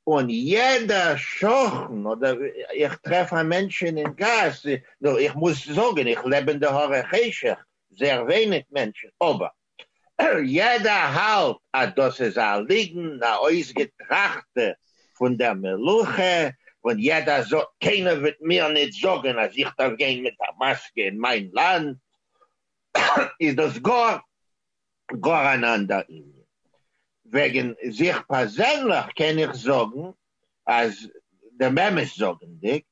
S4: און יעדע שכן אדער איך טרעף א מענטש אינעם גאס, נו איך מוז זאגן איך לעב אין די הרי חשך, זעהר ווייניג מענטשן, אבער יעדער האלט אז דאס איז א ליגן א אויסגעטראכטע פון דער מלוכה, און יעדער זאגט קיינער וועט מיר ניט זאגן אז איך דארף גיין מיט א מאסקע אין מיין לאנד, איז דאס גאר גאר אן אנדער ענין. וועגן זיך פערזענליך קען איך זאגן אז דעם אמת זאגענדיג,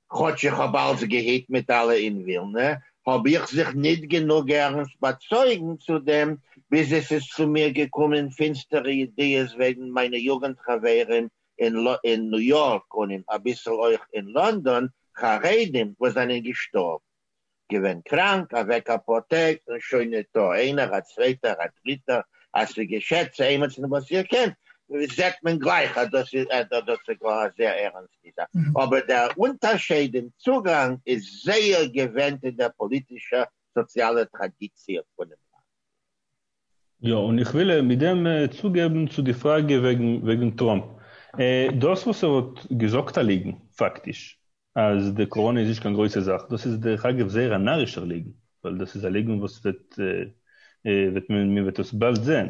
S4: כאטש איך האב אלץ געהיט מיט אלע אין ווילנע, האב איך זיך ניט גענוג ערנסט באצויגן צו דעם, ביז עס איז צו מיר געקומען פינסטערע ידיעות וועגן מיינע יוגענט חברים אין ניו יארק און אין אביסל אויך אין לאנדאן, חרדים וואס זענען געשטארבן. געווען קראנק, אוועק אפאר טעג און שוין ניטא, איינער א צווייטער א דריטער, אז ס'געשעט צו עימיצן וואס איר קענט זעט מען גלייך אז דאס איז ער, דאס איז גאר א זייער ערענסטע זאך, אבער דער אונטערשייד אין צוגאנג איז זייער געווענדט אין דער פאליטישער סאציאלער טראדיציע פונעם לאנד.
S3: יא, און איך וויל מיט דעם צוגעבן צו די פראגע וועגן טראמפ. דאס וואס ער האט געזאגט א ליגן, פאקטיש, אז די קאראנע איז נישט קיין גרויסע זאך, דאס איז דרך אגב זייער א נארישער ליגן, ווייל דאס איז א ליגן וואס וועט מען מען וועט עס באלד זען.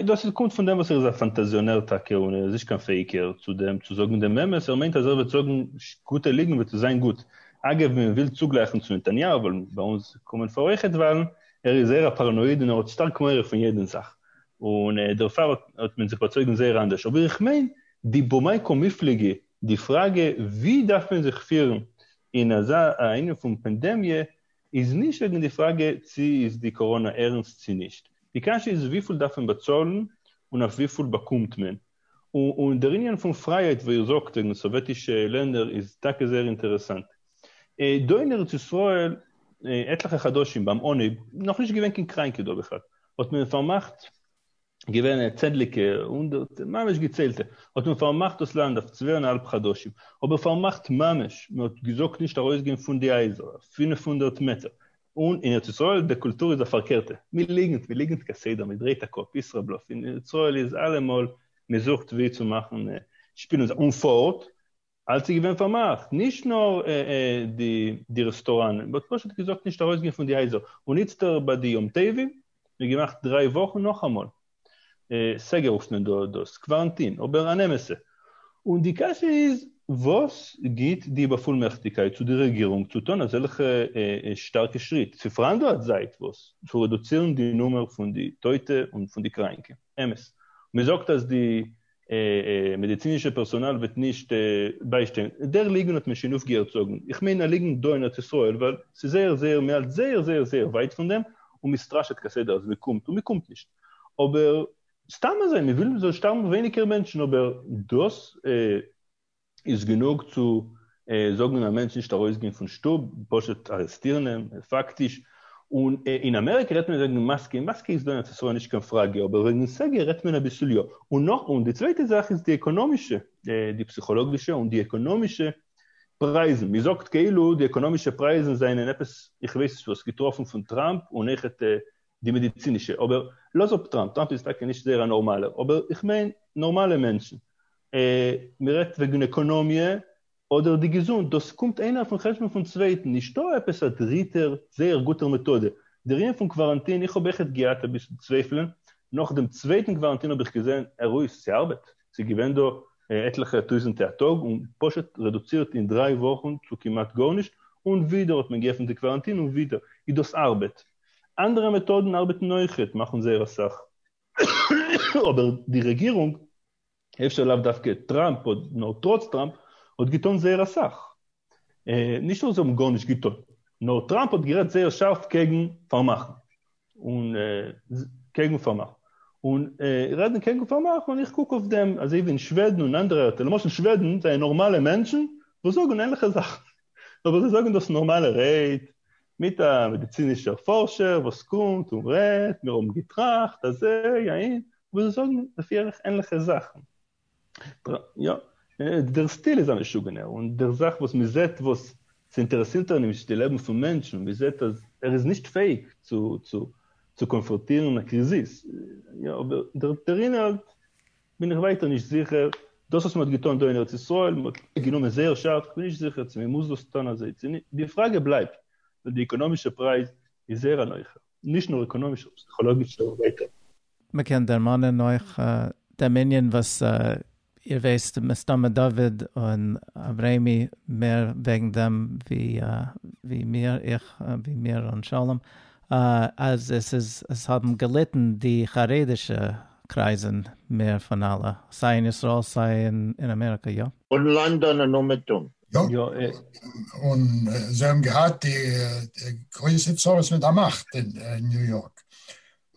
S3: דאס קומט פון דעם וואס ער איז א פאנטאזיאנער טאקע און ער איז נישט קיין פעיקער. צו דעם צו זאגן דעם אמת, ער מיינט אז ער וועט זאגן גוטע ליגן וועט עס זיין גוט. אגב מען וויל צוגלייכן צו נתניהו ווייל ביי אונז קומען פאר אויכעט וואלן, ער איז זייער א פאראנויד און ער האט שטארק מורא פון יעדן זאך, און דערפאר האט מען זיך באצויגן זייער אנדערש, אבער איך מיין די במקום מפלגה, די פראגע ווי דארף מען זיך פירן אין אזא ענין פון פענדעמיע איז נישט וועגן די פראגע צו איז די קאראנא ערנסט צו נישט, די קשיא איז וויפיל דארף מען באצאלן און אויף וויפיל באקומט מען. און דער ענין פון פרייהייט ווי איר זאגט וועגן סאוועטישע לענדער איז טאקע זייער אינטערעסאנט. דא אין ארץ ישראל עטליכע חדשים ביים אנהייב, נאכנישט געווען קיין קריינקע דא בכלל, האט מען פארמאכט, געווען צענדליגע, הונדערטע, ממש געציילטע, האט מען פארמאכט דאס לאנד אויף צוויי און א האלב חדשים, אבער פארמאכט ממש, מען האט געזאגט נישט ארויסגיין פון די הייזער, פֿינף הונדערט מעטער, און אין ארץ ישראל די קולטור איז א פארקערטע, מען ליגנט, מען ליגנט כסדר, מען דרייט א קאפ, ישראבלוף, אין ארץ ישראל איז אלעמאל מען זוכט ווי צו מאכן שפילן זיך, און פארט אלץ איז געווען פארמאכט, נישט נאר די רעסטוראנען, מען האט פשוט געזאגט נישט ארויסגיין פון די הייזער, און איצטער ביי די יום טובים, מען האט געמאכט דריי וואכן נאכאמאל. סגר רופט מען דאס, קווארנטין, אבער אן אמת'ע. און די קשיא איז, וואס גיט די באפולמעכטיגקייט צו די רעגירונג צו טון אזעלכע שטארקע שריט, צו פאראנדלען זייט וואס, צו רעדוצירן די נומער פון די טויטע און פון די קראנקע? אמת, מ'זאגט אז די. מעדיצינישע פערסאנאל וועט נישט ביישטיין, דער ליגן האט מען שוין אויפגעהערט זאגן, איך מיין א ליגן דא אין ארץ ישראל, ווייל ס'איז זייער זייער מען האלט זייער זייער זייער ווייט פון דעם, און מען סטראשעט כסדר אז מען קומט און מען קומט נישט, אבער סתם אזוי מען וויל מען זאל שטארבן ווייניגער מענטשן, אבער דאס איז גענוג צו זאגן א מענטש נישט ארויסגיין פון שטוב, פשוט ארעסטירן אים, פאקטיש, און אין אמעריקע רעדט מען וועגן מאסקע, און מאסקע איז דא אין ארץ ישראל נישט קיין פראגע, אבער וועגן סגר רעדט מען אביסל יא, און נאך, און די צווייטע זאך איז די עקאנאמישע, די פסיכאלאגישע און די עקאנאמישע פרייזן, מען זאגט כאילו די עקאנאמישע פרייזן זענען עפעס, איך ווייס נישט וואס, געטראפן פון טראמפ, און אויכעט די מעדיצינישע, אבער לאז אפ טראמפ, טראמפ איז טאקע נישט זייער א נארמאלער, אבער איך מיין נארמאלע מענטשן, מען רעדט וועגן עקאנאמיע אדער די געזונט, דאס קומט איינער אויפן חשבון פון צווייטן, נישטא עפעס א דריטער זייער גוטער מעטאדע. די ענין פון קוואראנטין, איך האב עכט געהאט אביסל צווייפלען, נאך דעם צווייטן קוואראנטין האב איך געזען עררויס, ס'ארבעט, ס'איז געווען דא עטליכע טויזענטע א טאג און פשוט רעדוצירט אין דריי וואכן צו כמעט גארנישט, און ווידער האט מען געעפנט די קוואראנטין און ווידער איז דאס ארבעט. אנדערע מעטאדן ארבעטן אויך און מאכן זייער אסאך, אבער די רעגירונג, אפשר לאו דווקא טראמפ, נאר טראץ טראמפ, האט געטון זייער אסאך. נישט אז זיי האבן גארנישט געטון, נאר טראמפ האט גערעדט זייער שארף קעגן פארמאכן, און קעגן פארמאכן. און רעדן קעגן פארמאכן, און איך קוק אויף דעם, אזוי ווי אין שוועדן און אנדערע ארטער, למשל שוועדן זענען נארמאלע מענטשן וואס זאגן ענליכע זאכן, אבער זיי זאגן דאס אין נארמאלע רייד, מיט א מעדיצינישער פארשער וואס קומט און רעדט, מיר האבן געטראכט אז אזוי אהין, אבער זיי זאגן לפי ערך ענליכע זאכן. יא, דער סטיל איז א משוגענער, און דער זאך וואס מען זעט וואס ס'אינטערעסירט אים נישט די לעבן פון מענטשן און מען זעט אז ער איז נישט פעאיג צו צו קאנפראטירן א קריזיס, יא, אבער דער אינהאלט בין איך ווייטער נישט זיכער, דאס וואס מען האט געטון דא אין ארץ ישראל, מען האט גענומען זייער שארף, איך בין נישט זיכער צו מען מוז דאס טון אזוי צו נישט, די פראגע בלייבט, ווייל די עקאנאמישע פרייז איז זייער אן אויך, נישט נאר עקאנאמישער, פסיכאלאגישער און ווייטער. מען קען
S1: דערמאנען אויך דעם ענין וואס איר ווייסט מסתמא דוד און אברעמי מער וועגן דעם ווי מיר, איך ווי מיר און שלום, אז עס איז עס האבן געליטן די חרדישע קרייזן מער פון אלע, סיי אין ישראל סיי אין אמעריקא, יא? און לאנדאן און
S4: אומעטום.
S2: יא, און זיי האבן געהאט גרויסע צרות מיט א מאכט אין ניו יארק,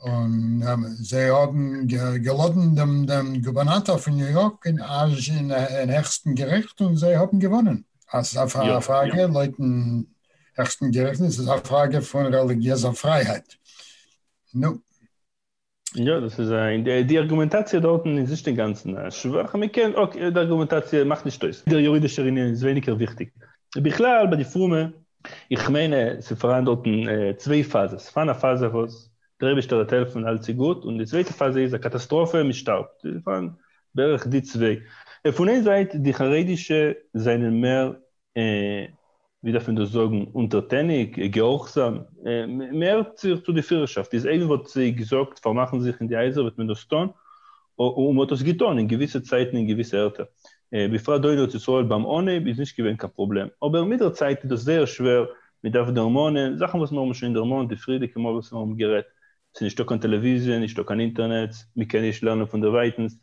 S2: און זיי האבן געלאדענט דעם גובערנאטאר פון ניו יארק אין העכסטן געריכט און זיי האבן געוואונען, אזא פראגע לויטן העכסטן גערעכנט
S3: איז עס א פראגע פון רעליגיעזע פרייהייט. נו. יא, דאס איז א, די ארגומענטאציע דארטן איז נישט אינגאנצן שוואך, מען קען, אקעי, די ארגומענטאציע מאכט נישט אויס, דער יורידישער ענין איז ווייניגער וויכטיג. בכלל ביי די פרומע, איך מיין ס'איז פאראן דארטן צוויי פאזעס, פארן א פאזע וואס דער אייבישטער וועט העלפן אלץ איז גוט, און די צווייטע פאזע איז א קאטאסטראפע מען שטארבט, ס'איז פאראן בערך די צוויי. פון איין זייט די חרדישע זענען מער און ווי דארף מען דאס זאגן, אונטערטעניג, געהארכזאם, מ'הערט זיך צו די פירערשאפט, איז איינער וואלט זיי געזאגט פארמאכן זיך אין די הייזער וועט מען דאס טון, און מ'האט דאס געטון אין געוויסע צייטן אין געוויסע ערטער, בפרט דא אין ארץ ישראל ביים אנהייב איז נישט געווען קיין פראבלעם, אבער מיט דער צייט איז דאס זייער שווער, מ'דארף דערמאנען זאכן וואס מיר האבן שוין דערמאנט די פריערדיגע מאל וואס מיר האבן גערעדט, ס'איז נישטא קיין טעלעוויזיע, נישטא קיין אינטערנעץ, מ'קען נישט לערנען פון דערווייטנס,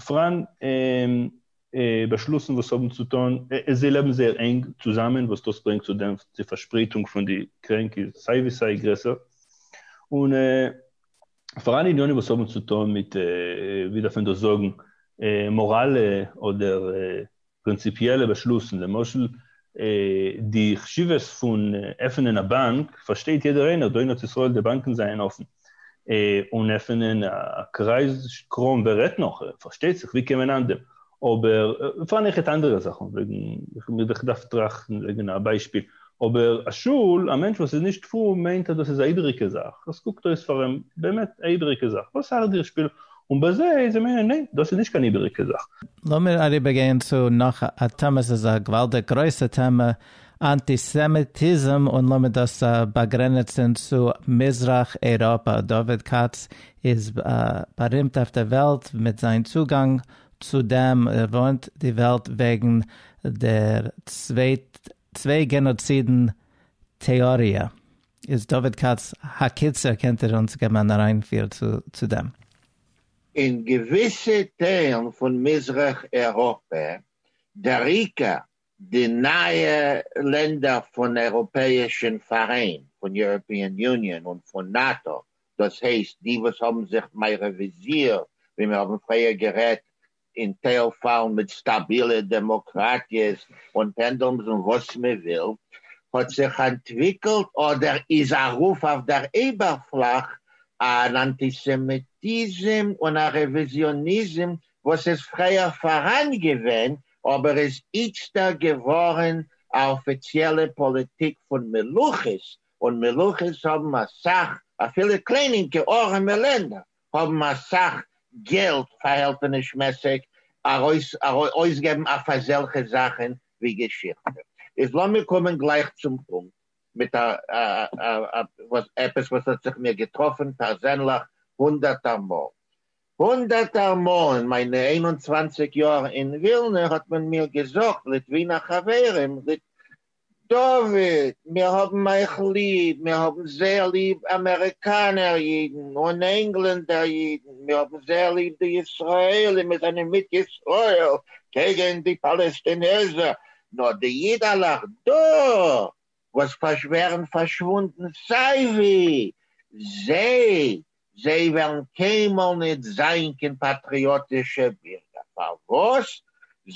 S3: פראן. באשלוסן וואס האבן צו טון, זיי לעבן זייער ענג צוזאמען וואס דאס ברענגט צו דעם די פארשפרייטונג פון די קרענק איז סיי ווי סיי גרעסער, און פאר אלע עניינים וואס האבן צו טון מיט ווי דארף מען דאס זאגן מאראלע אדער פרינציפיעלע באשלוסן, למשל, די חשיבות פון עפענען א באנק פארשטייט יעדער איינער דא אין ארץ ישראל די באנקען זייען אפען און עפענען א קרייז קראם ווער רעדט נאך פארשטייט זיך ווי קען מען אנדעם אבער פארן איך העט אנדערע זאכען וועגען איך האב מיר דאך געדארפט טראכטען וועגען א ביישפיל אבער א שול א מענטש וואס איז נישט פרום מיינט אז דאס איז א איבעריגע זאך עס קוקט אויס פאר אים באמת א איבעריגע זאך וואס ארט דיר שפיל און בזה איז אים עונה, ניין, דאס איז נישט קיין איבעריגע זאך. לאמיר אריבער
S1: גיין צו נאך א טעמע, עס איז א געוואלדיג גרויסע טעמע, אנטיסעמיטיזם, און לאמיר דאס באגרעניצן צו מזרח אייראפע, דוד כץ איז בארימט אויף די וועלט מיט זיין צוגאנג צו דעם, ער ווארנט די וועלט וועגן דער צוויי גענאצידן טעאריע. איז דוד כץ הקיצור קענט איר אונז געבן אן אריינפיר צו דעם? אין
S4: געוויסע טיילן פון מזרח אירופע, דעריקא די נייע לענדער פון אייראפעאישן פאראיין, פון יוראפיען יוניאן און פון נאטא, דאס הייסט די וואס האבן זיך מערעוויזירט ווי מיר האבן פריער גערעדט אין טייל פאלן מיט סטאבילע דעמאקראטיעס און פענדולמס און וואס מען וויל, האט זיך אנטוויקלט אדער איז ארויף אויף דער אייבערפלאך אן אנטיסעמיטיזם און א רעוויזיאניזם וואס איז פריער פאראן געווען אבער איז איצטער געווארן א אפיציעלע פאליטיק פון מלוכות, און מלוכות האבן אסאך אפילו קליינינקע ארעמע לענדער. האבן אסאך געלט פארהעלטענישמעסיג ארויס אויסגעבן אויף אזעלכע זאכן ווי געשיכטע. איז לאמיר קומען גלייך צום פונקט מיט א וואס עפעס וואס האט זיך מיר געטראפן פערזענליך הונדערטער מאל. הונדערטער מאל אין מיינע איין און צוואַנציק יאר אין ווילנע האט מען מיר געזאגט, ליטווינער חברים, דוד, מיר האבן אייך ליב, מיר האבן זייער ליב אמעריקאנער אידן און ענגלענדער אידן, מיר האבן זייער ליב די ישראלים, מיר זענען מיט ישראל קעגן די פאלעסטינעזער, נאר די אידעלעך דא וואס ווערן פארשוואונדן סיי ווי, זיי זיי וועלן קיינמאל ניט זיין קיין פאטריאטישע בירגער, פארוואס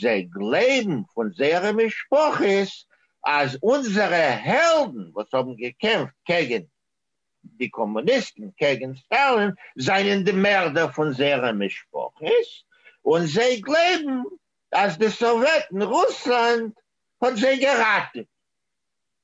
S4: זיי גלייבן פון זייערע משפחות אז אונזערע העלדן וואס האבן געקעמפט קעגן די קאמוניסטן, קעגן סטאלין, זענען די מערדער פון זייערע משפחות, און זיי גלייבן אז די סאוועטן, רוסלאנד, האט זיי געראטעוועט.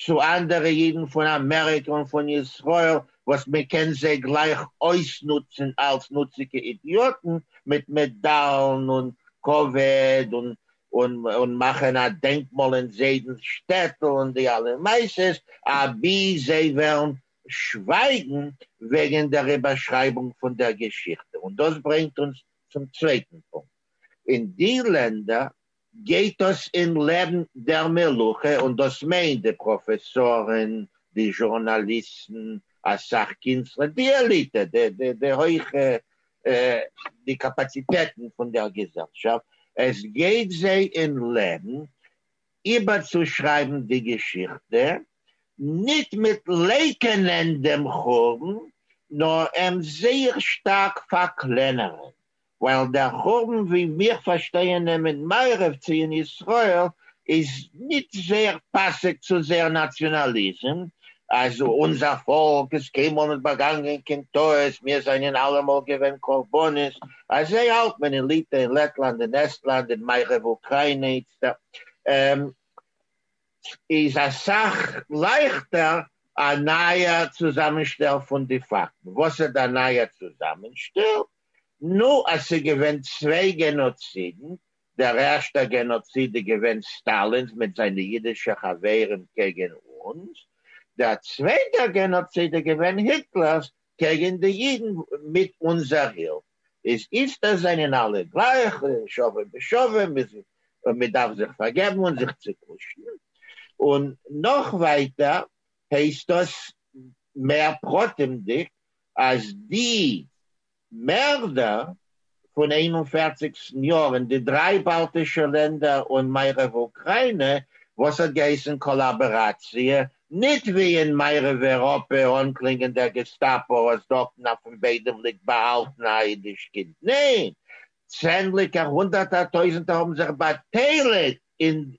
S4: צו אנדערע אידן פון אמעריקע און פון ישראל וואס מען קען זיי גלייך אויסנוצן אלס נוציגע אידיאטן מיט מעדאלן און כבוד און און מאכן א דענקמאל אין זיידנס שטעטל און די אלע מעשות אבי זיי וועלן שווייגן וועגן דער איבערשרייבונג פון דער געשיכטע און דאס ברענגט אונז צום צווייטן פונקט אין די לענדער גייט עס אין לעבן דער מלוכה, און דאס מיינט די פראפעסארן, די זשורנאליסטן, אסאך קינסטלער, די עליטע, די הויכע, די קאפאציטעטן פון דער געזעלשאפט, עס גייט זיי אין לעבן איבערצושרייבן די געשיכטע, ניט מיט לייקענען דעם חורבן, נאר אים זייער שטארק פארקלענערן, ווייל דער חורבן ווי מיר פארשטייען אים אין מערב צו אין ישראל איז ניט זייער פאסיג צו זייער נאציאנאליזם, אז אונזער פאלק איז קיינמאל ניט באגאנגען קיין טעות, מיר זיינען אלעמאל געווען קרבנות, אזוי האלט מען אין ליטע, אין לעטלאנד, אין עסטלאנד, אין מערב אוקריינע איצטערט, איז א סך לייכטער א נייער צוזאמענשטעל פון די פאקטן. וואס איז דער נייער צוזאמענשטעל? נו, אז ס'איז געווען צוויי גענאצידן, דער ערשטער גענאציד איז געווען סטאלינ'ס מיט זיינע אידישע חברים קעגן אונז, דער צווייטער גענאציד איז געווען היטלער'ס קעגן די אידן מיט אונזער הילף. איז איצט עס זענען אלע גלייך, שווה בשווה, מ'איז און מ'דארף זיך פארגעבן און זיך צוקושן. און נאך ווייטער הייסט דאס מער פרטימ'דיג אז די מערדער פון איין און פֿערציק סניור אין די דריי באלטישע לענדער און מערב אוקריינע וואס האט געהייסן קאלאבעראציע ניט ווי אין מערב איראפע אנקלינגען דער געסטאפאו אז דארטן אויפן ביידעם ליגט באהאלטן א אידיש קינד ניין צענדליגער הונדערטער טויזנטער האבן זיך באטייליגט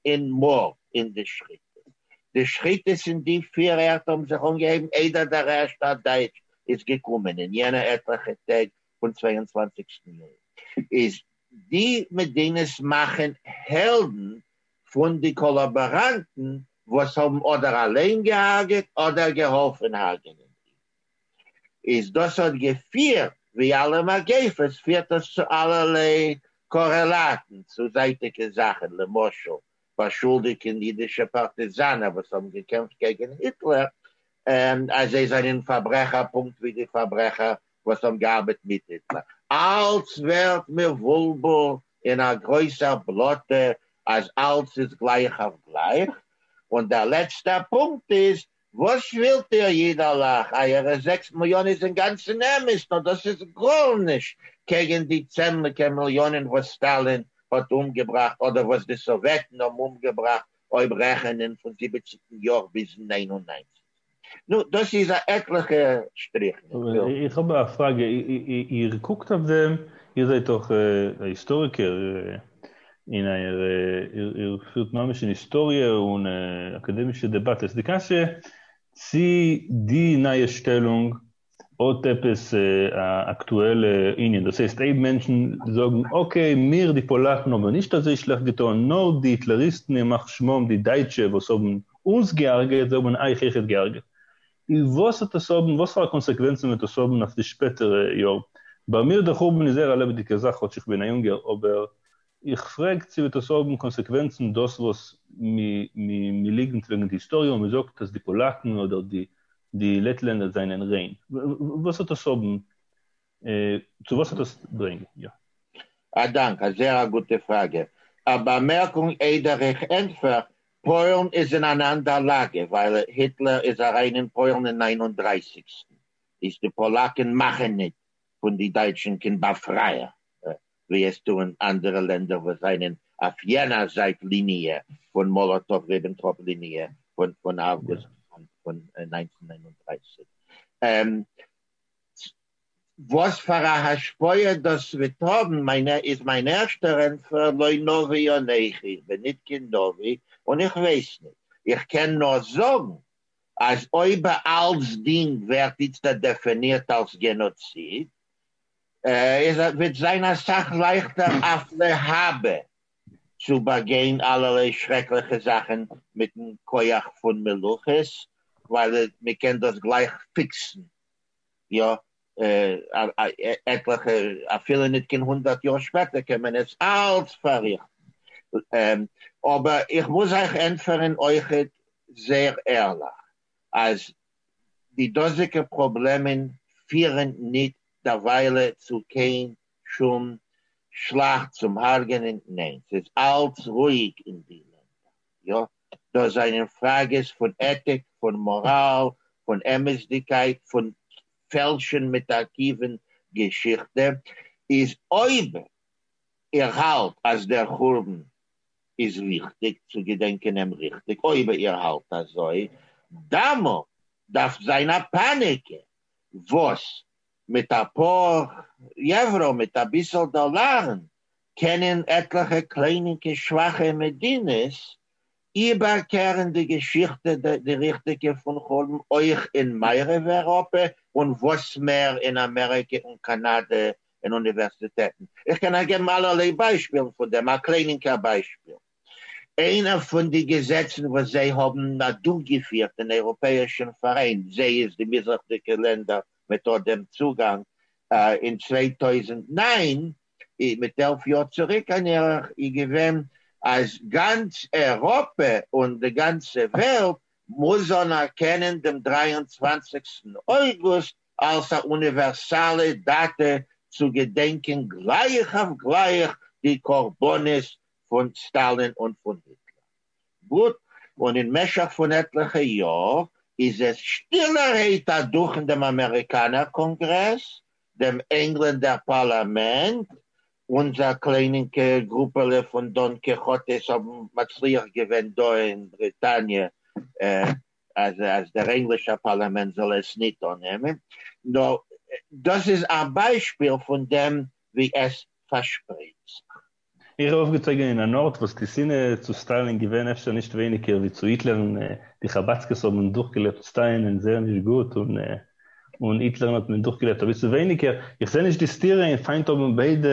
S4: אין מארד אין די שחיטות. די שחיטות אין די פיר ערטער האבן זיך אנגעהויבן איידער דער רעשט א דייטש איז געקומען אין יענע עטליכע טעג פון צוויי און צוואנציגסטן יולי איז די מדינות מאכן העלדן פון די קאלאבאראנטן וואס האבן אדער אליין געהארגעט אדער געהאלפן הארגענען אידן. איז דאס האט געפירט, ווי אלע מגיפות פירט דאס צו אלערליי קארעלאטן, צו זייטיגע זאכן, למשל באשולדיגן אידישע פארטיזאנער וואס האבן געקעמפט קעגן היטלער אז זיי זענען פארברעכער פונקט ווי די פארברעכער וואס האבן געארבעט מיט היטלער, אלץ ווערט מבולבל אין א גרויסער בלאטע אז אלץ איז גלייך אויף גלייך, און דער לעצטער פונקט איז וואס ווילט איר איד אלעך, אייערע זעקס מיליאן איז אינגאנצן אמת, נאר דאס איז גארנישט קעגן די צענדליגער מיליאנען וואס סטאלין האט אומגעבראכט אדער וואס די סאוועטן האבן אומגעבראכט אויב רעכענען פון זיבעציגן יאר ביזן נײַן און נײַנציק. נו, דאס איז א עטליכע שטריכן. איך האב א
S3: פראגע, איר קוקט אויף דעם, איר זענט דאך א היסטאריקער, און איר איר פירט ממש אין היסטאריע און אקאדעמישע דעבאטעס די קשיא צי די נייע שטעלונג האט עפעס א אקטועלע ענין, דאס הייסט אויב מענטשן זאגן אקעי מיר די פאלאקן האבן נישט אזוי שלעכט געטון נאר די היטלעריסטן ימח שמם די דייטשע וואס האבן אונז געהארגעט זיי האבן אייך אויכעט געהארגעט און וואס וועט עס האבן, וואס פאר א קאנסעקווענצן וועט עס האבן אויף די שפעטערע יאר? ביי מיר דער חורבן איז זייער א לעבעדיגע זאך כאטש איך בין א יונגער, אבער איך פרעג צו וועט עס האבן קאנסעקווענצן דאס וואס מען ליגנט וועגן די היסטאריע און מען זאגט אז די פאלאקן אדער די לעטלענדער זענען ריין? וואס וועט עס האבן צו וואס האט עס ברענג יא? א דאנק, א
S4: זעהר א גוטע פראגע. א באמערקונג איידער איך ענטפער, פוילן איז אין אן אנדער לאגע ווייל היטלער איז אריין אין פוילן אין נײַן און דרײַסיק איז די פאלאקען מאכען ניט פון די דייטשען קין באפרייער ווי עס טוען אנדערע לענדער וואס זיינען אויף יענער זייט ליניע פון מאלאטאוו ריבענטראפ ליניע פון אויגוסט פון נײַנצן נײַן און דרײַסיק וואס פאר א השפעה דאס וועט האבן מיין איז מיין ערשטער ענטפער לא נביא אנכי איך בין ניט קיין נביא און איך ווייס ניט איך קען נאר זאגן אז אויב אלצדינג ווערט איצט דעפענירט אלס גענאציד איז וועט זיין אסאך לייכטער אויף להבא צו באגיין אלערליי שרעקליכע זאכן מיטן כח פון מלאכות ווייל מען קען דאס גלייך פיקסן יא עטליכע אפילו ניט קיין הונדערט יאר שפעטער קען מען עס אלץ פארריכטן אבער איך מוז אייך ענטפערן אויכעט זייער ערליך אז די דאזיגע פראבלעמען פירן ניט דערוויילע צו קיין שום שלאכט צום הארגענען, ניין, ס'איז אלץ רואיג אין די לענדער, יא, דאס זענען פראגעס פון עטיק, פון מאראל, פון אמת'דיגקייט, פון פעלשן מיט ארכיוון געשיכטע, איז אויב איר האלט אז דער חורבן איז ריכטיג צו געדענקען אים ריכטיג, אויב איר האלט אזוי, דאמאלט דארף זיין א פאניקע, וואס מיט א פאר יעוורא מיט אביסעל דאלארען קענען עטליכע קליינינקע שוואכע מדינות איבערקערען די געשיכטע די ריכטיגע פון חלום אויך אין מערב אירופע און וואס מער אין אמעריקע און קאנאדע אין אוניווערסיטעטען איך קען אייך געבן אלערליי ביישפילן פון דעם א קליינינקער ביישפיל איינער פון די געזעצן וואס זיי האבן אדורכגעפירט אין אייראפעאישן פאראיין, זיי איז די מזרח'דיגע לענדער מיט אט דעם צוגאנג, אין צוויי טויזנט נײַן, מיט עלף יאר צוריק אן ערך, איז געווען אז גאנץ אייראפע און די גאנצע וועלט מוז אנערקענען דעם דרײַ און צוואַנציקסטן אויגוסט אלס א אוניווערסאלע דאטע צו געדענקען גלייך אויף גלייך די קרבנות פון סטאלין און פון היטלער. גוט, און אין משך פון עטליכע יאר איז עס שטילערהייט אדורכן דעם אמעריקאנער קאנגרעס, דעם ענגלענדער פארלאמענט, אונזער קליינינקע גרופעלע פון דאן קיכאטעס האבן מצליח געווען דא אין בריטאניע אז אז דער ענגלישער פארלאמענט זאל עס ניט אננעמען. נו, דאס איז א ביישפיל פון דעם ווי עס פארשפרייט זיך. איך בין
S3: אויפגעצויגען אין אן ארט וואס די שנאה צו סטאלין איז געווען אפשר נישט ווייניגער ווי צו היטלער און די חבדסקעס האבען דורכגעלעבט סטאין און זייער נישט גוט און און היטלערן האט מען דורכגעלעבט אביסל ווייניגער, איך זעה נישט די סתירה אין פיינט האבען ביידע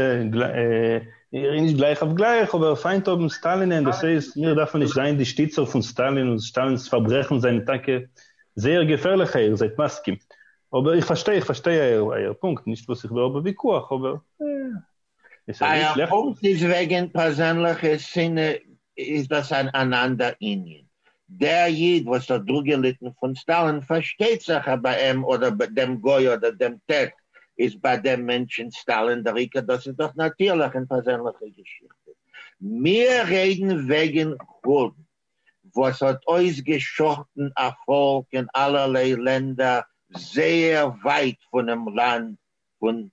S3: נישט גלייך אויף גלייך אבער פיינט האבען סטאלין און דאס הייסט מיר דארפען נישט זיין די שטיצער פון סטאלין און סטאלינס פארברעכען זענען טאקע זייער געפערליכע איר זייט מסכים אבער איך פארשטיי איך פארשטיי אייער פונקט נישט וואס איך וויל האבען וויכוח אבער.
S4: אייער פונקט איז וועגען פערזענליכע שנאה איז דאס אן אנאנדער ענין, דער איד וואס האט דורגעליטען פון סטאלין פארשטייט זיך אז ביי עם אדער ביי דעם גוי אדער דעם ת ת איז ביי דעם מענטשען סטאלין דער עיקר דאס איז דאך נאטירליך אין פערזענליכע געשיכטע מיר רעדען וועגען חורבן וואס האט אויס געשחט'ן א פאלק אין אלערליי לענדער זייער ווייט פונעם לאנד פון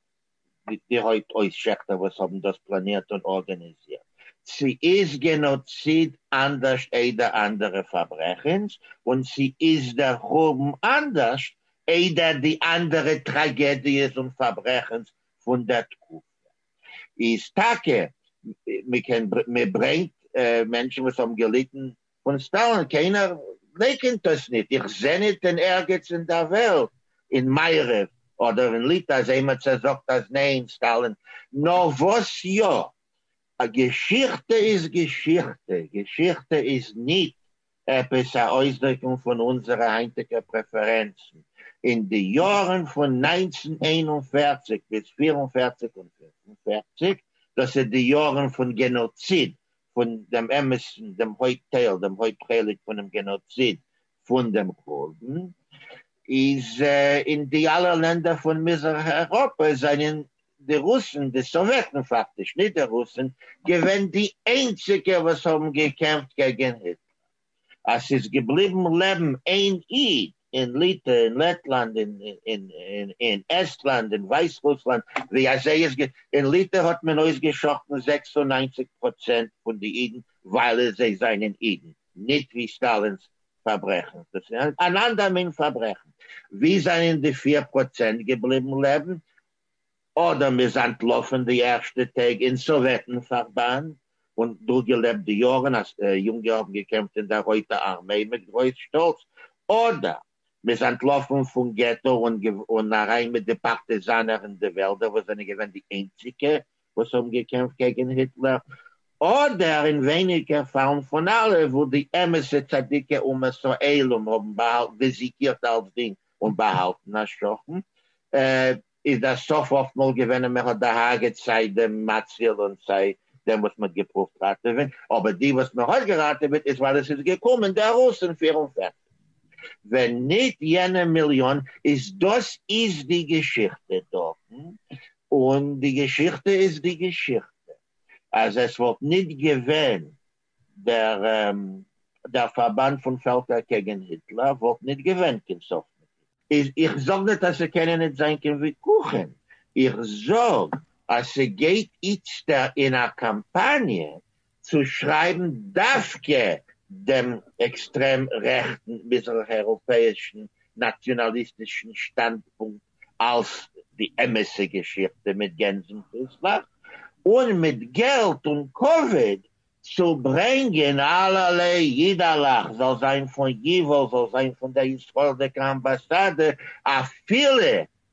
S4: מיט די הויפט אויסשעכטער וואס האבן דאס פלאנירט און ארגאניזירט. צו איז גענאציד אנדערשט איידער אנדערע פארברעכנס, און צו איז דער חורבן אנדערשט איידער די אנדערע טראגעדיעס און פארברעכנס פון דער תקופה. איז טאקע, מ'קען, מ'ברענגט מענטשן וואס האבן געליטן פון סטאלין קיינער לייקענט עס ניט, איך זע ניט אין ערגעץ אין דער וועלט, אין מערב אדער אין ליטא, אז איינמער צעזאגט אז ניין, סטאלין. נאר וואס יא, א געשיכטע איז געשיכטע, געשיכטע איז ניט עפעס א אויסדריקונג פון אונזערע היינטיגע פרעפערענצן. אין די יארן פון נײַנצן איין און פֿערציק ביז פֿיר און פֿערציק און פֿינף און פֿערציק, דאס איז די יארן פון גענאציד פון דעם אמת'ן, דעם הויפט טייל, דעם הויפט חלק פונעם גענאציד פון דעם חורבן, איז אין די אלע לענדער פון מזרח אייראפע זענען די רוסן, די סאוועטן פאקטיש, נישט די רוסן, געווען די איינציגע וואס האבן געקעמפט קעגן היטלער. אז ס'איז געבליבן לעבן איין איד אין ליטע אין לעטלאנד אין אין אין עסטלאנד אין ווייסרוסלאנד ווי אזוי איז גע אין ליטע האט מען אויסגעשאכטן זעקס און ניינציג פראצענט פון די אידן ווייל זיי זענען אידן ניט ווי סטאלינס פארברעכנס דאס איז אן אנדער מין פארברעכן ווי זענען די פיר פראצענט געבליבן לעבן אדם איז אנטלאפען די ערשטע טעג אין סאוועטען פארבאנד און דורגעלעבט די יארען אז יונגע האבען געקעמפט אין דער רויטע ארמעי מיט גרויס שטאלץ. אדם איז אנטלאפען פון געטא און אריין מיט די פארטיזאנער אין די וועלדער וואס זענען געווען די איינציגע וואס האבען געקעמפט קעגען היטלער. אדער אין ווייניגער פאלן פון אלע וואו די אמת'ע צדיקי אומות העולם האבען באהאלטען ווי זיקירט אלסדינג און באהאלטען א שכן. איז דער סוף אפטמאל געווען אז מען האט דערהארגעט סיי דעם מציל און סיי דעם וואס מען האט געפרואווט ראטעווען, אבער די וואס מען האט געראטעוועט איז ווייל עס איז געקומען דער רוס אין פֿיר און פֿערציק, ווען ניט יענע מיליאן, איז דאס איז די געשיכטע דארטן, און די געשיכטע איז די געשיכטע, אז עס וואלט ניט געווען דער פארבאנד פון פעלקער קעגן היטלער וואלט ניט געווען קיין סוף מיט אים. איך זאג ניט אז ס'קענען ניט זיין קיין וויכוחים, איך זאג אז ס'גייט איצטער אין א קאמפאניע צו שרייבן דווקא דעם עקסטרעם-רעכטן מיזרח-אייראפעאישן נאציאנאליסטישן שטאנדפונקט אלס די אמת'ע געשיכטע מיט גענזן פסח, און מיט געלט און כבוד צו ברענגען אלל אידאלעך זאל זיין פון ייוואו זאל זיין פון דער ישראלדיקע אמבאסאדע אפילו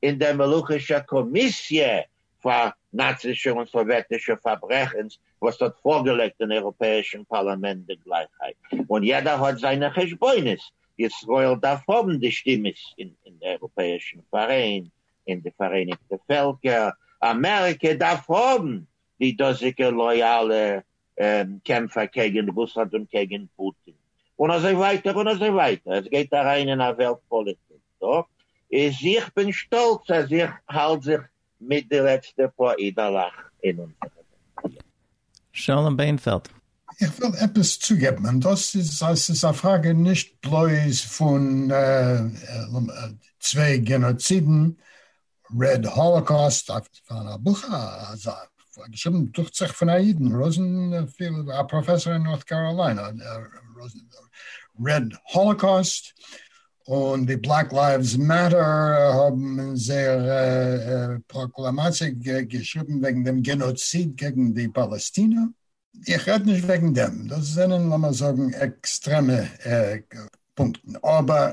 S4: אין דער מלוכישער קאמיסיע פאר נאצישע און סאוועטישע פארברעכנס וואס האט פארגעלייגט אין אייראפעאישן פארלאמענט די גלייכהייט און יעדער האט זיינע חשבונות, ישראל דארף האבן די שטימעס אין די אייראפעאישן פאראיין, אין די פאראייניגטע פעלקער, אמעריקע דארף האבן די דאזיגע לויאלע קעמפער קעגן רוסלאנד און קעגן פוטין און אזוי ווייטער און אזוי ווייטער, עס גייט אריין אין א וועלט פאליטיק דא, איז איך בין שטאלץ אז איך האלט זיך מיט די לעצטע פאר אידעלעך אין אונזער וועלט. שלום
S1: בענפעלד. איך וויל
S2: עפעס צוגעבן און דאס איז אז ס'איז א פראגע נישט בלויז פון צוויי גענאצידן רד האלאקאסט פאר א בוך אזא געשריבן דוכט זיך פון א אידן ראזענפעלד א פראפעסאר אין נארט קאראליינע רד האלאקאסט און די בלעק לייווס מעטער האבן אין זייער פראקלאמאציע געשריבן וועגן דעם גענאציד קעגן די פאלעסטינער איך רעד נישט וועגן דעם דאס זענען לאמיר זאגן עקסטרעמע פונקטן אבער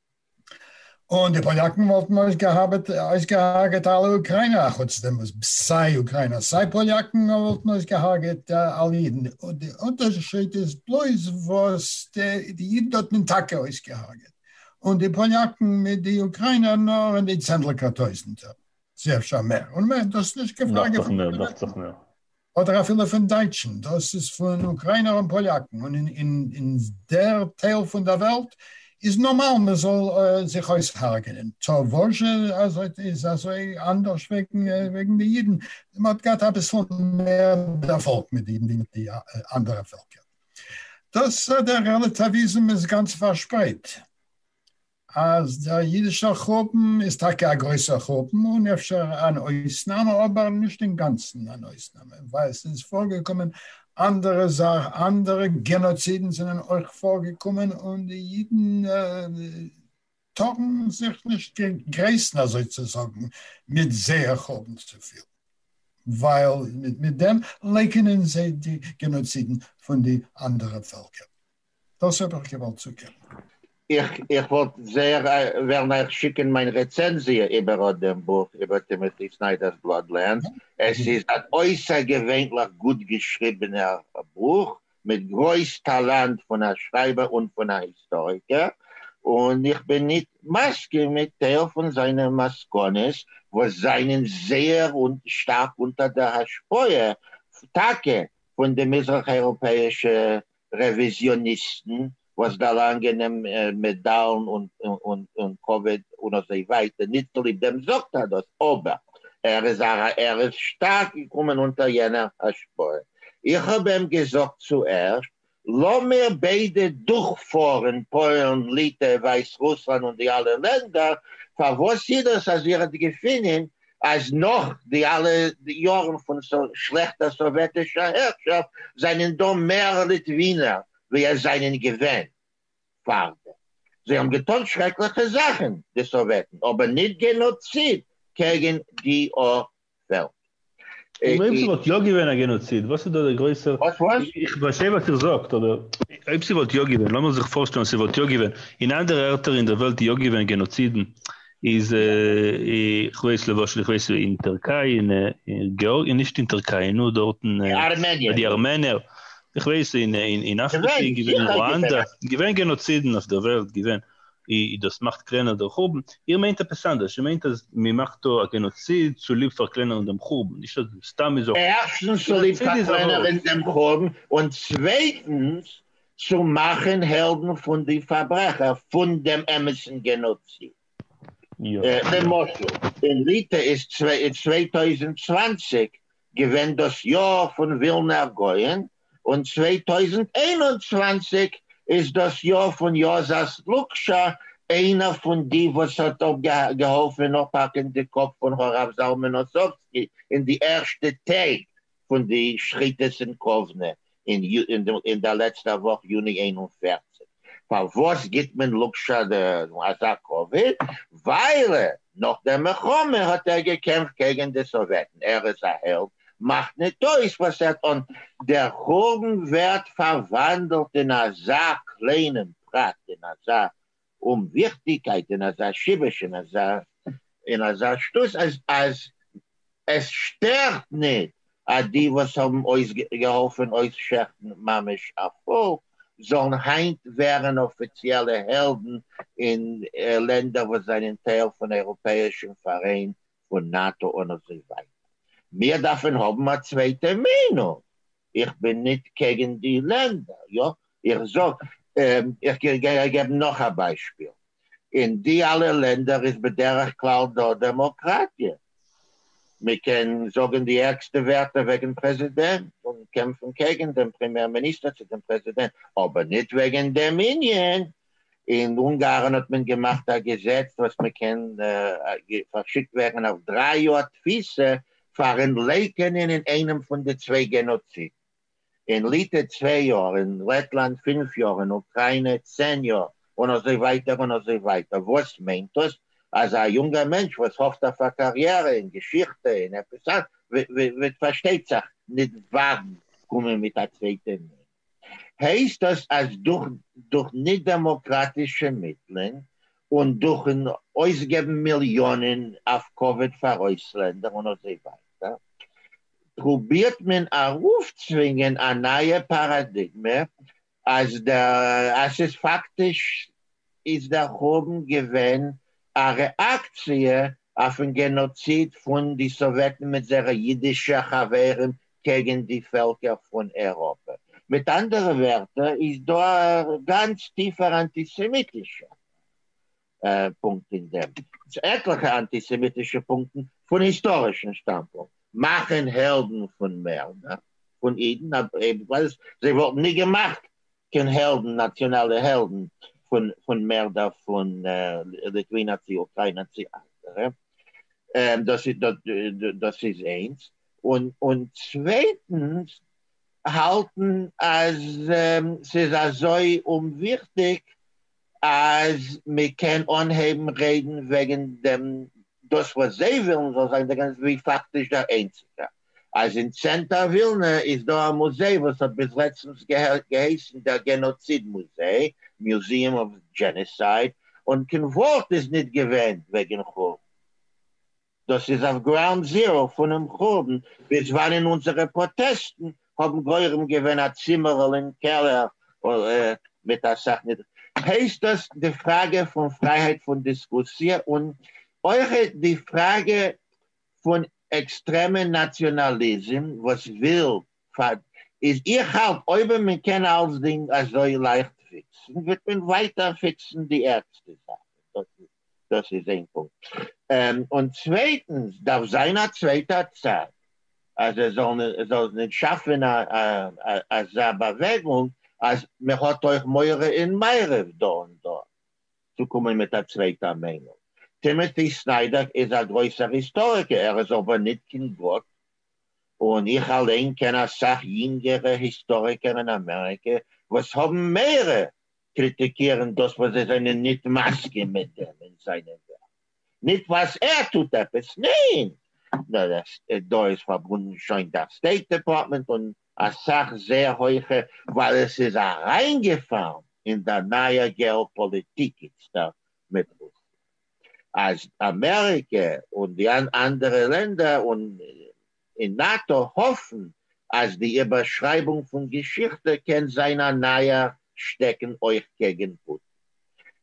S2: און די פאליאקן וואלטן אויסגעהאבעט אויסגעהארגעט אלע אוקריינער א חוץ דעם וואס סיי אוקריינער סיי פאליאקן וואלטן אויסגעהארגעט אלע אידן און די אונטערשיד איז בלויז וואס די אידן האט מען טאקע אויסגעהארגעט און די פאליאקן מיט די אוקריינער נאר אין די צענדליגער טויזענטער צו אפשר מער און מען האט דאס נישט געפארגעט פון קיין איינעם.
S3: אדער אפילו
S2: פון דייטשן, דאס איז פון אוקריינער און פאליאקן, און אין דער טייל פון דער וועלט איז נארמאל מען זאל זיך אויסהרג'נען, טא וואזשע איז אזוי אנדערש וועגן די אידן? מען האט געהאט אביסל מער דערפאלג מיט די אידן ווי מיט די אנדערע פעלקער. דאס דער רעלעטאוויזם איז גאנץ פארשפרייט. אז דער אידישער חורבן איז טאקע א גרויסער חורבן און אפשר אן אויסנאם אבער נישט אינגאנצן אן אויסנאם ווייל ס'איז פארגעקומען אנדערע זאכן אנדערע גענאצידן זענען אויך פארגעקומען און די אידן טארן זיך נישט גרייסן אזוי צו זאגן מיט זייער חורבן צופיל ווייל מיט דעם לייקענען זיי די גענאצידן פון די אנדערע פעלקער. דאס האב איך געוואלט זאגען. איך
S4: וואלט זייער וועלן אייך שיקען מיין רעצענזיע איבער אט דעם בוך איבער טימאטי סניידער'ס בלאדלענד, עס איז אן אויסערגעווענליך גוט געשריבענער בוך מיט גרויס טאלאנט פון א שרייבער און פון א היסטאריקער, און איך בין ניט מסכים מיט טייל פון זיינע מסקנות וואס זיינען זייער שטארק אונטער דער השפעה טאקע פון די מזרח אייראפעאישע רעוויזיאניסטן וואס דערלאנגען אים מעדאלן און כבוד און אזוי ווייטער, ניט צוליב דעם זאגט ער דאס, אבער ער איז ער איז שטארק געקומען אונטער יענער השפעה. איך האב אים געזאגט צוערשט, לאמיר ביידע דורכפארן פוילן, ליטע, ווייסרוסלאנד און די אלע לענדער, פארוואס איז דאס אז איר האט געפינען אז נאך די אלע יארן פון שלעכטע סאוועטישע הערשאפט זענען דא מער ליטווינער ווי עס זענען געווען פאר דעם. זיי האבן געטון שרעקליכע זאכן, די סאוועטן, אבער ניט גענאציד קעגן די אור-וועלט. און אויב
S3: ס'וואלט יא געווען א גענאציד, וואס איז דא דער גרויסער? וואס וואס? איך פארשטיי
S4: וואס איר
S3: זאגט, אבער אויב ס'וואלט יא געווען, לאמיר זיך פארשטעלן ס'וואלט יא געווען אין אנדערע ערטער אין דער וועלט יא געווען גענאצידן, איז איך ווייס למשל איך ווייס אין טערקיי אין געארגיע נישט אין טערקיי נאר דארטן ביי די ארמענער איך ווייס אין אין אפריקע איז געווען רואנדא געווען גענאצידן אויף דער וועלט געווען און דאס מאכט קלענער דער חורבן, איר מיינט עפעס אנדערש, איר מיינט אז מען מאכט דא א גענאציד צוליב פארקלענערן דעם חורבן, נישט אז סתם איז א חורבן. ערשטנס צוליב
S4: פארקלענערן דעם חורבן, און צווייטנס צו מאכן העלדן פון די פארברעכער פון דעם אמת'ן גענאציד.
S3: למשל, אין
S4: ליטע איז צוויי טויזנט צוואַנציק געווען דאס יאר פון ווילנער גאון, און צוויי טויזנט איין און צוואַנציק איז דאס יאר פון יאזאס לוקשא, איינער פון די וואס האט געהאלפן אנפאקן די קאפ פון הרב זלמן אוסובסקי אין די ערשטע טעג פון די שחיטות אין קאוונע אין דער לעצטער וואך יוני איין און פֿערציק. פארוואס גיט מען לאקשאן אזא כבוד? ווייל נאך דער מלחמה האט ער געקעמפט קעגן די סאוועטן, ער איז א העלד, מאכט ניט אויס וואס ער טאן. דער חורבן ווערט פארוואנדלט אין אזא קליינעם פרט, אין אזא און וויכטיגקייט אין אזא שיבוש אין אזא אין אזא שטות אז אז עס שטערט ניט אז די וואס האבן אויס געהאלפען אויסשעכטן ממש א פאלק זאלן היינט ווערען אפיציעלע העלדן אין לענדער וואס זענען טייל פון אייראפעאישען פארעין פון נאטא און אזוי ווייטער. מיר דארפען האבן א צווייטע מיינונג. איך בין ניט קעגען די לענדער יא איך זאג, איך גיי געבן נאך א ביישפיל, אין די אלע לענדער איז בדרך כלל דא דעמאקראטיע, מען קען זאגן די ערגסטע ווערטער וועגן פרעזידענט און קעמפן קעגן דעם פרעמיער מיניסטער צו דעם פרעזידענט, אבער ניט וועגן דעם ענין. אין אונגארן האט מען געמאכט א געזעץ וואס מען קען פארשיקט ווערן אויף דריי יאר תפיסה פאר'ן לייקענען אין איינעם פון די צוויי גענאצידן. אין ליטע צוויי יאר, אין לעטלאנד פֿינף יאר, אין אוקריינע צען יאר, און אזוי ווייטער און אזוי ווייטער, וואס מיינט דאס אז א יונגער מענטש וואס האפט אויף א קאריערע אין געשיכטע אין עפעס א וועט פארשטייט זיך ניט וואגן קומען מיט א צווייטע מינע? הייסט דאס אז דורך דורך ניט דעמאקראטישע מיטלען און דורכן אויסגעבן מיליאנען אויף קאוויד פאר אויסלענדער און אזוי ווייטער פרובירט מען ארויפצווינגען א נייע פאראדיגמע אז ס'איז פאקטיש איז דער חורבן געווען א רעאקציע אויפן גענאציד פון די סאוועטן מיט זייערע אידישע חברים קעגן די פעלקער פון אייראפע. מיט אנדערע ווערטער איז דא א גאנץ טיפער אנטיסעמיטישער פונקט אין דעם צו עטליכע אנטיסעמיטישע פונקטן פון היסטארישן שטאנדפונקט, מאכן העלדן פון מערדער פון אידן אבוויעסלי, זיי וואלטן נישט געמאכט קיין העלדן נאציאנאלע העלדן פון מערדער פון ליטווינא צי אוקריינא צי אנדערע, דאס איז איינס, און צווייטנס האלטן אז ס'איז אזוי אומוויכטיג אז מען קען אנהייבן רעדן וועגן דעם דאס וואס זיי ווילן זאל זיין דער גענז ווי פאקטיש דער איינציגער אז אין צענטער ווילנע איז דא א מוזיי וואס האט ביז לעצטנס געהייסן דער גענאציד מוזיי, Museum of Genocide, און קיין ווארט איז ניט געווען וועגן חורבן. דאס איז אויף גראונד זיראו פונעם חורבן ביז וואנען אונזערע פראטעסטן האבן גורם געווען א צימערל אין קעלער מיט אסאך נידריגע. הייסט דאס די פראגע פון פרייהייט פון דיסקוסיע און אויך די פראגע פון עקסטרעמע נאציאנאליזים וואס וויל פאר איז איך האלט אויב מען קען אלסדינג אזוי לייכט פיקסן וועט מען ווייטער פיקסן די ערגסטע זאכן דאס איז דאס איז איין פונקט. און צווייטנס דארף זיין א צווייטע צד אז עס זאל נישט שאפען אזא באוועגונג אז מען האט אויך מורא אין מערב דא און דארט צו קומען מיט א צווייטע מיינונג. טימאטי סניידער איז א גרויסער היסטאריקער, ער איז אבער ניט קיין גאט, און איך אליין קען א סך יינגערע היסטאריקער אין אמעריקע וואס האבן מערע קריטיקירן דאס וואס זיי זענען ניט מסכים מיט דעם אין זיינע ווערק, ניט ווייס ער טוט עפעס, ניין, נאר עס דא איז פארבונדן שוין דער סטעיט דעפארטמענט און א סך זעהר הויכע ווייל עס איז אריינגעפאלן אין דער נייער געאופאליטיק איצטער מיט רוסלאנד אז אמעריקע און די אנדערע לענדער און און נאטא האפן אז די איבערשרייבונג פון געשיכטע קען זיין א נייער שטעקן אויך קעגן פוטין,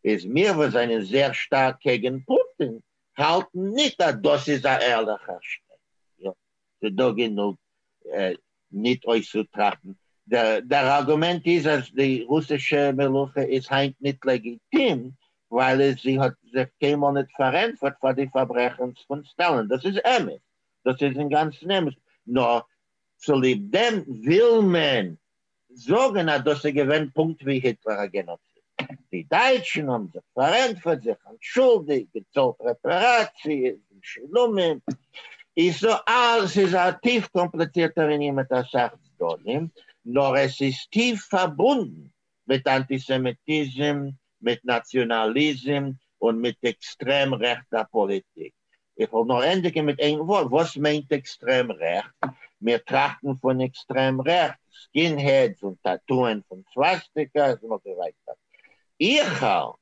S4: ביז מיר וואס זענען זייער שטארק קעגן פוטין האלטן ניט אז דאס איז א ערליכער שטעקן. יא, ס'דא גענוג ניט אויסצוטראכטן. דער ארגומענט איז אז די רוסישע מלוכה איז היינט ניט לעגיטים ווייל זי האט זיך קיינמאל ניט פארענטפערט פאר די פארברעכנס פון סטאלין. דאס איז אמת, דאס איז אינגאנצן אמת, נאר צוליב דעם וויל מען זאגן אז דאס איז געווען פונקט ווי היטלער א גענאציסט. די דייטשן האבן זיך פארענטפערט, זיך אנטשולדיגט, געצאלט רעפעראציעס, משולמים, איז סא אלעס איז א טיף קאמפליצירטער ענין מיט אסאך צדדים, נאר עס איז טיף פארבונדן מיט אנטיסעמיטיזם, מיט נאציאנאליזם, און מיט עקסטרעם רעכטע פאליטיק. איך וועל נאר ענדיגן מיט איין ווארט, וואס מיינט עקסטרעם רעכט? מיר טראכטן פון עקסטרעם רעכט, סקינהעדס און טאטוען פון סוואסטיקאס און אזוי ווייטער. איך האלט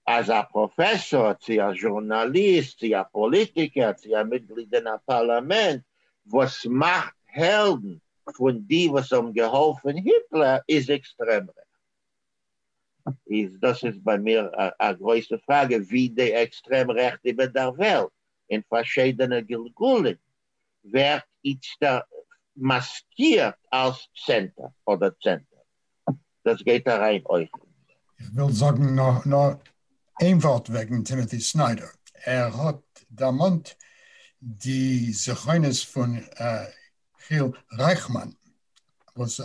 S4: אז א פראפעסאר צי א זשורנאליסט צי א פאליטיקער צי א מיטגליד אין א פארלאמענט וואס מאכט העלדן פון די וואס האבן געהאלפן היטלער איז עקסטרעם רעכט איז דאס איז ביי מיר א גרויסע פראגע ווי די עקסטרעם רעכט איבער דער וועלט אין פארשיידענע גלגולים ווערט איצטער מאסקירט אלס סענטער אדער צענטער, דאס גייט אריין אויך אין דעם. איך וויל
S2: זאגן נאר איין ווארט וועגן טימאטי סניידער, ער האט דערמאנט די זכרונות פון חיל רייכמאן. וואס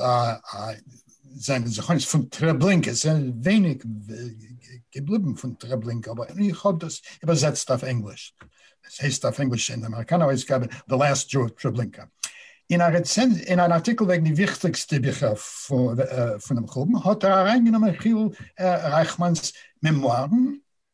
S2: זיינע זכרונות פון טרעבלינקע, עס זענען ווייניג געבליבן פון טרעבלינקע, אבער איך האב דאס איבערזעצט אויף ענגליש, עס הייסט אויף ענגליש אין די אמעריקאנער אויסגאבע The Last Jew of Treblinka. אין א רעצענזיע, אין אן ארטיקל וועגן די וויכטיגסטע ביכער פונעם חורבן, האט ער אריינגענומען חיל רייכמאן'ס מעמוארן,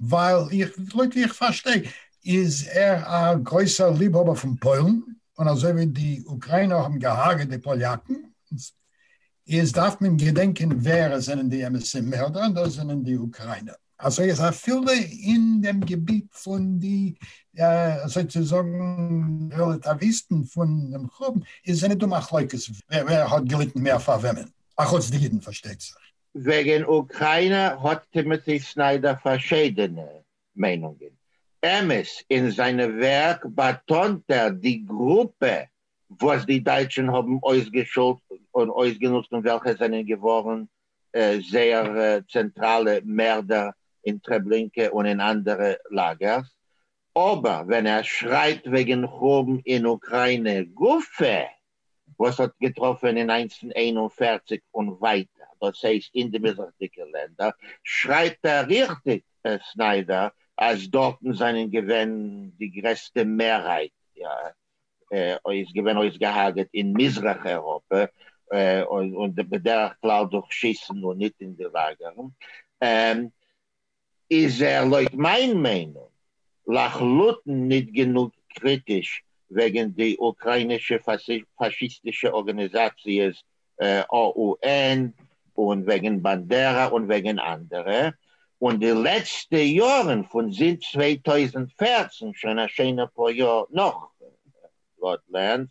S2: ווייל איך, לויט ווי איך פארשטיי איז ער א גרויסער ליבהאבער פון פוילן, און אזוי ווי די אוקריינער האבן געהארגעט די פאליאקן, איז דארף מען געדענקען ווער עס זענען די אמת'ע מערדער, און דאס זענען די אוקריינער. אזוי אז אפילו אין דעם געביט פון די אזוי צו זאגן רעלאטאוויסטן פון דעם חורבן, איז זענען דא מחלוקת ווער האט געליטן מער פאר וועמען, אחוץ די אידן פארשטייט זיך. וועגן
S4: אוקריינע האט טימאטי סניידער פארשיידענע מיינונגען. אמת, אין זיינע ווערק באטאנט ער די גרופע וואס די דייטשן האבן אויסגעשולט און אויסגענוצט און וועלכע זענען געווארן זייער צענטראלע מערדער אין טרעבלינקע און אין אנדערע לאגערס. אבער ווען ער שרייבט וועגן חורבן אין אוקריינע גופא, וואס האט געטראפען אין איינס פון איין און פֿערציק און ווייטער, דאס הייסט אין די מזרח'דיגע לענדער, שרייבט ער ריכטיג, סניידער, אז דארטן זענען געווען די גרעסטע מערהייט איז געווען אויסגעהארגעט אין מזרח אייראפע, און בדרך כלל דורך שיסן און ניט אין די לאגערן. איז ער לויט מיין מיינונג לחלוטין ניט גענוג קריטיש וועגן די אוקראינישע פאשיסטישע ארגאניזאציעס OUN און וועגן באנדערא און וועגן אנדערע, און די לעצטע יארן פון זינט צוויי טויזנט פֿערצן שוין א שיינע פאר יאר נאך גראדלענד.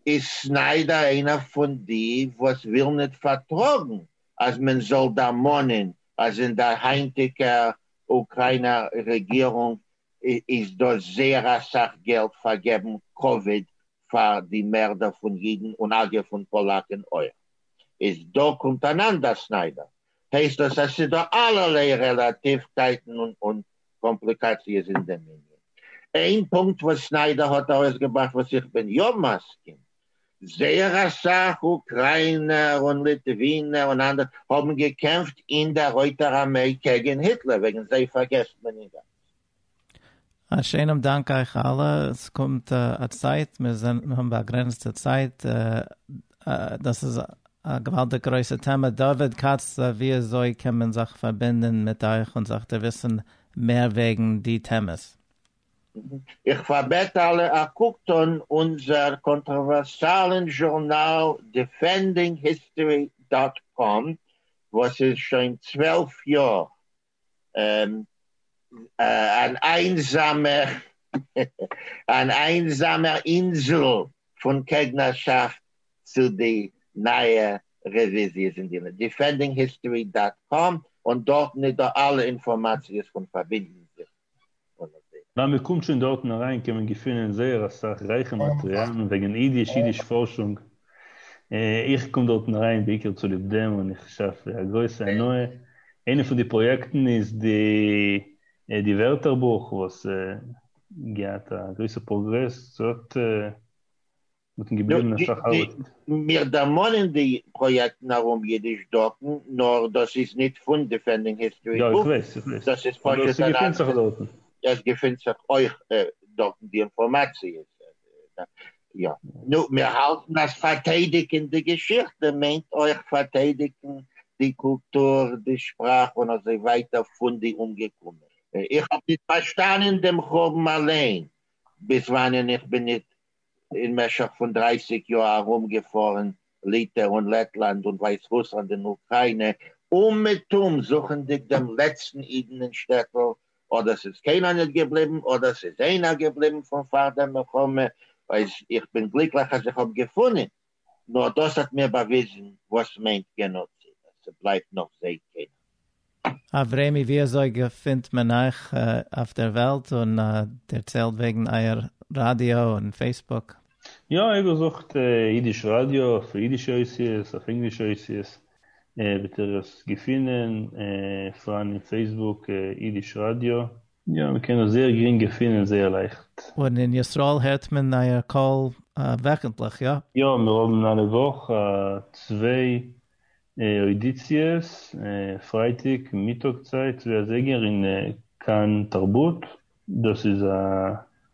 S4: איז סניידער איינער פון די וואס ווילן ניט פארטראגן אז מען זאל דערמאנען אז אין דער היינטיקער אוקריינער רעגירונג איז דא זייער א סך געלט פאר געבן כבוד פאר די מערדער פון יידן און אגב פון פאלאקען אויך. איז דא קומט אן אנדער סניידער הייסט דאס אז ס'איז דא אלערליי רעלאטיווקייטן און קאמפליקאציעס אין דעם ענין. איין פונקט וואס סניידער האט ארויסגעבראכט וואס איך בין יא מסכים, זייער אסאך אוקריינער און ליטווינער און אנדערע האבן געקעמפט אין דער רויטער ארמעי קעגן היטלער, וועגן זיי פארגעסט מען אינגאנצן.
S1: א שענעם דאנק אייך אלע, עס קומט א צייט, מיר האבן באגרענצטע צייט, דאס איז א געוואלדיג גרויסע טעמע, דוד כץ ווי אזוי קען מען זיך פארבינדען מיט אייך און זיך דערוויסען מער וועגן די טעמעס?
S4: איך פארבעט אלע א קוק טון אונזער קאנטראווערסיאלען זשורנאל דיפענדינג היסטארי דאט קאם וואס איז שוין צוועלף יאר אן איינזאמער אן איינזאמער אינזל פון קעגנערשאפט צו די נייע רעוויזיעס אין די דיפענדינג היסטארי דאט קאם און דארטן איז דא אלע אינפארמאציעס פון פארבינדן זיך ווען
S3: מען קומט שוין דארטן אריין קען מען געפינען זייער אסאך רייכע מאטריאלן וועגן אידיש, אידיש פארשונג. איך קום דארטן אריין בעיקר צוליב דעם און איך שעפ א גרויסע הנאה. איינע פון די פראיעקטן איז די ווערטערבוך וואס געהאט א גרויסע פראגרעס, ס'האט מיטן געבליבענער שחר ליפט. מיר דערמאנען
S4: די פראיעקטן ארום אידיש דוקן, נאר דאס איז ניט פון דיפענדינג היסטארי בוקס. יא, איך ווייס,
S3: איך ווייס. דאס איז פשוט אן
S4: אנדערע. אבער ס'געפינט זיך דארטן. עס געפינט זיך אויך דארטן די אינפארמאציע. יא. נו, מיר האלטן אז פארטיידיגן די געשיכטע מיינט אויך פארטיידיגן די קולטור, די שפראך און אזוי ווייטער פון די אומגעקומענע. איך האב ניט פארשטאנען דעם חורבן אליין, ביז וואנען איך בין ניט אין משך פון דרייסיג יאר ארום געפארן ליטע און לעטלאנד און ווייסרוסלאנד און אוקריינע אומעטום זוכענדיג דעם לעצטן אידן אין שטעטל אדער ס'איז קיינער ניט געבליבן אדער ס'איז איינער געבליבן פון פאר דער מלחמה אויס איך בין גליקליך אז איך האב געפונען נאר דאס האט מיר באוויזן וואס מיינט גענאציד אז ס'בלייבט נאך זעהט קיינער. אברעמי ווי
S1: אזוי געפינט מען אייך אויף דער וועלט און דערציילט וועגן אייער ראדיא און פעיסבוק. יא איך בין
S3: זוכט אידיש ראדיא אויף אידישע אותיות אויף ענגלישע אותיות וועט איר עס געפינען פארהאן אין פעיסבוק אידיש ראדיא יא, מען קען עס זייער גרינג געפינען און זייער לייכט. און אין ישראל
S1: הערט מען אייער קול וועכנטליך, יא? יא, מיר האבן אלע
S3: וואך צוויי אודיציעס, פרייטאג מיטאג צייט צוויי אזייגער אין כאן תרבות, דאס איז א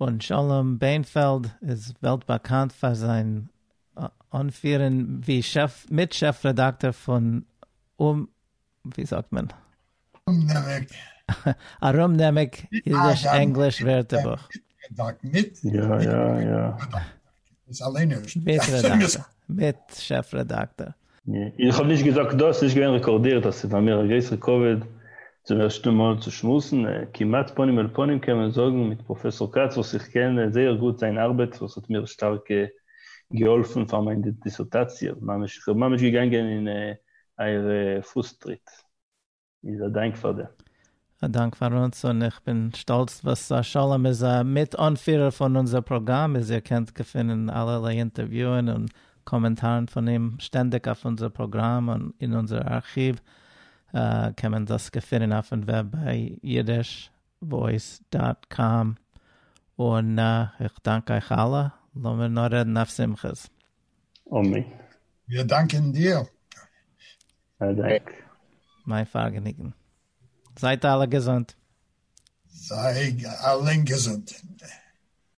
S3: און שלום
S1: בענפעלד איז וועלט באקאנט פאר זיין אנפירען ווי מיט שעף רעדאקטאר פון אום ווי זאגט מען? ארומנעמיג. ארומנעמיג אידיש ענגליש ווערטערבוך.
S2: בית רעדאַקטאָר, בית
S1: שעפֿרעדאַקטאָר. איך האב נישט
S3: געזאגט דאס, ס'איז נישט געווען רעקארדירט, אז ס'איז פאר מיר א גרעסער כבוד צום ערשטן מאל צו שמועסן כמעט פנים אל פנים קען מען זאגן מיט פראפעסאר כץ וואס איך קען זייער גוט זיין ארבעט וואס האט מיר שטארק געהאלפן פאר מיין דיסערטאציע ממש, איך בין ממש געגאנגען אין אייער פוס טריט. איז א דאנק פאר דעם. א דאנק פאר אונז, און
S1: איך בין שטאלץ וואס שלום איז א מיט אנפירער פון אונזער פראגראם, איז איר קענט געפינען אלערליי אינטערוויוען און קאמענטארן פון אים שטענדיג אויף אונזער פראגראם און אין אונזער ארכיוו, קען מען דאס געפינען אויפן וועב ביי אידיש וואויס דאט קאם, און איך דאנק אייך אלע, לאמיר נאר רעדן אויף שמחות.
S3: אמן. מיר
S2: דאנקען דיר. א
S3: דאנק.
S1: מיין פארגעניגן. זייט אלע געזונט.
S2: זיי
S1: אלע געזונט.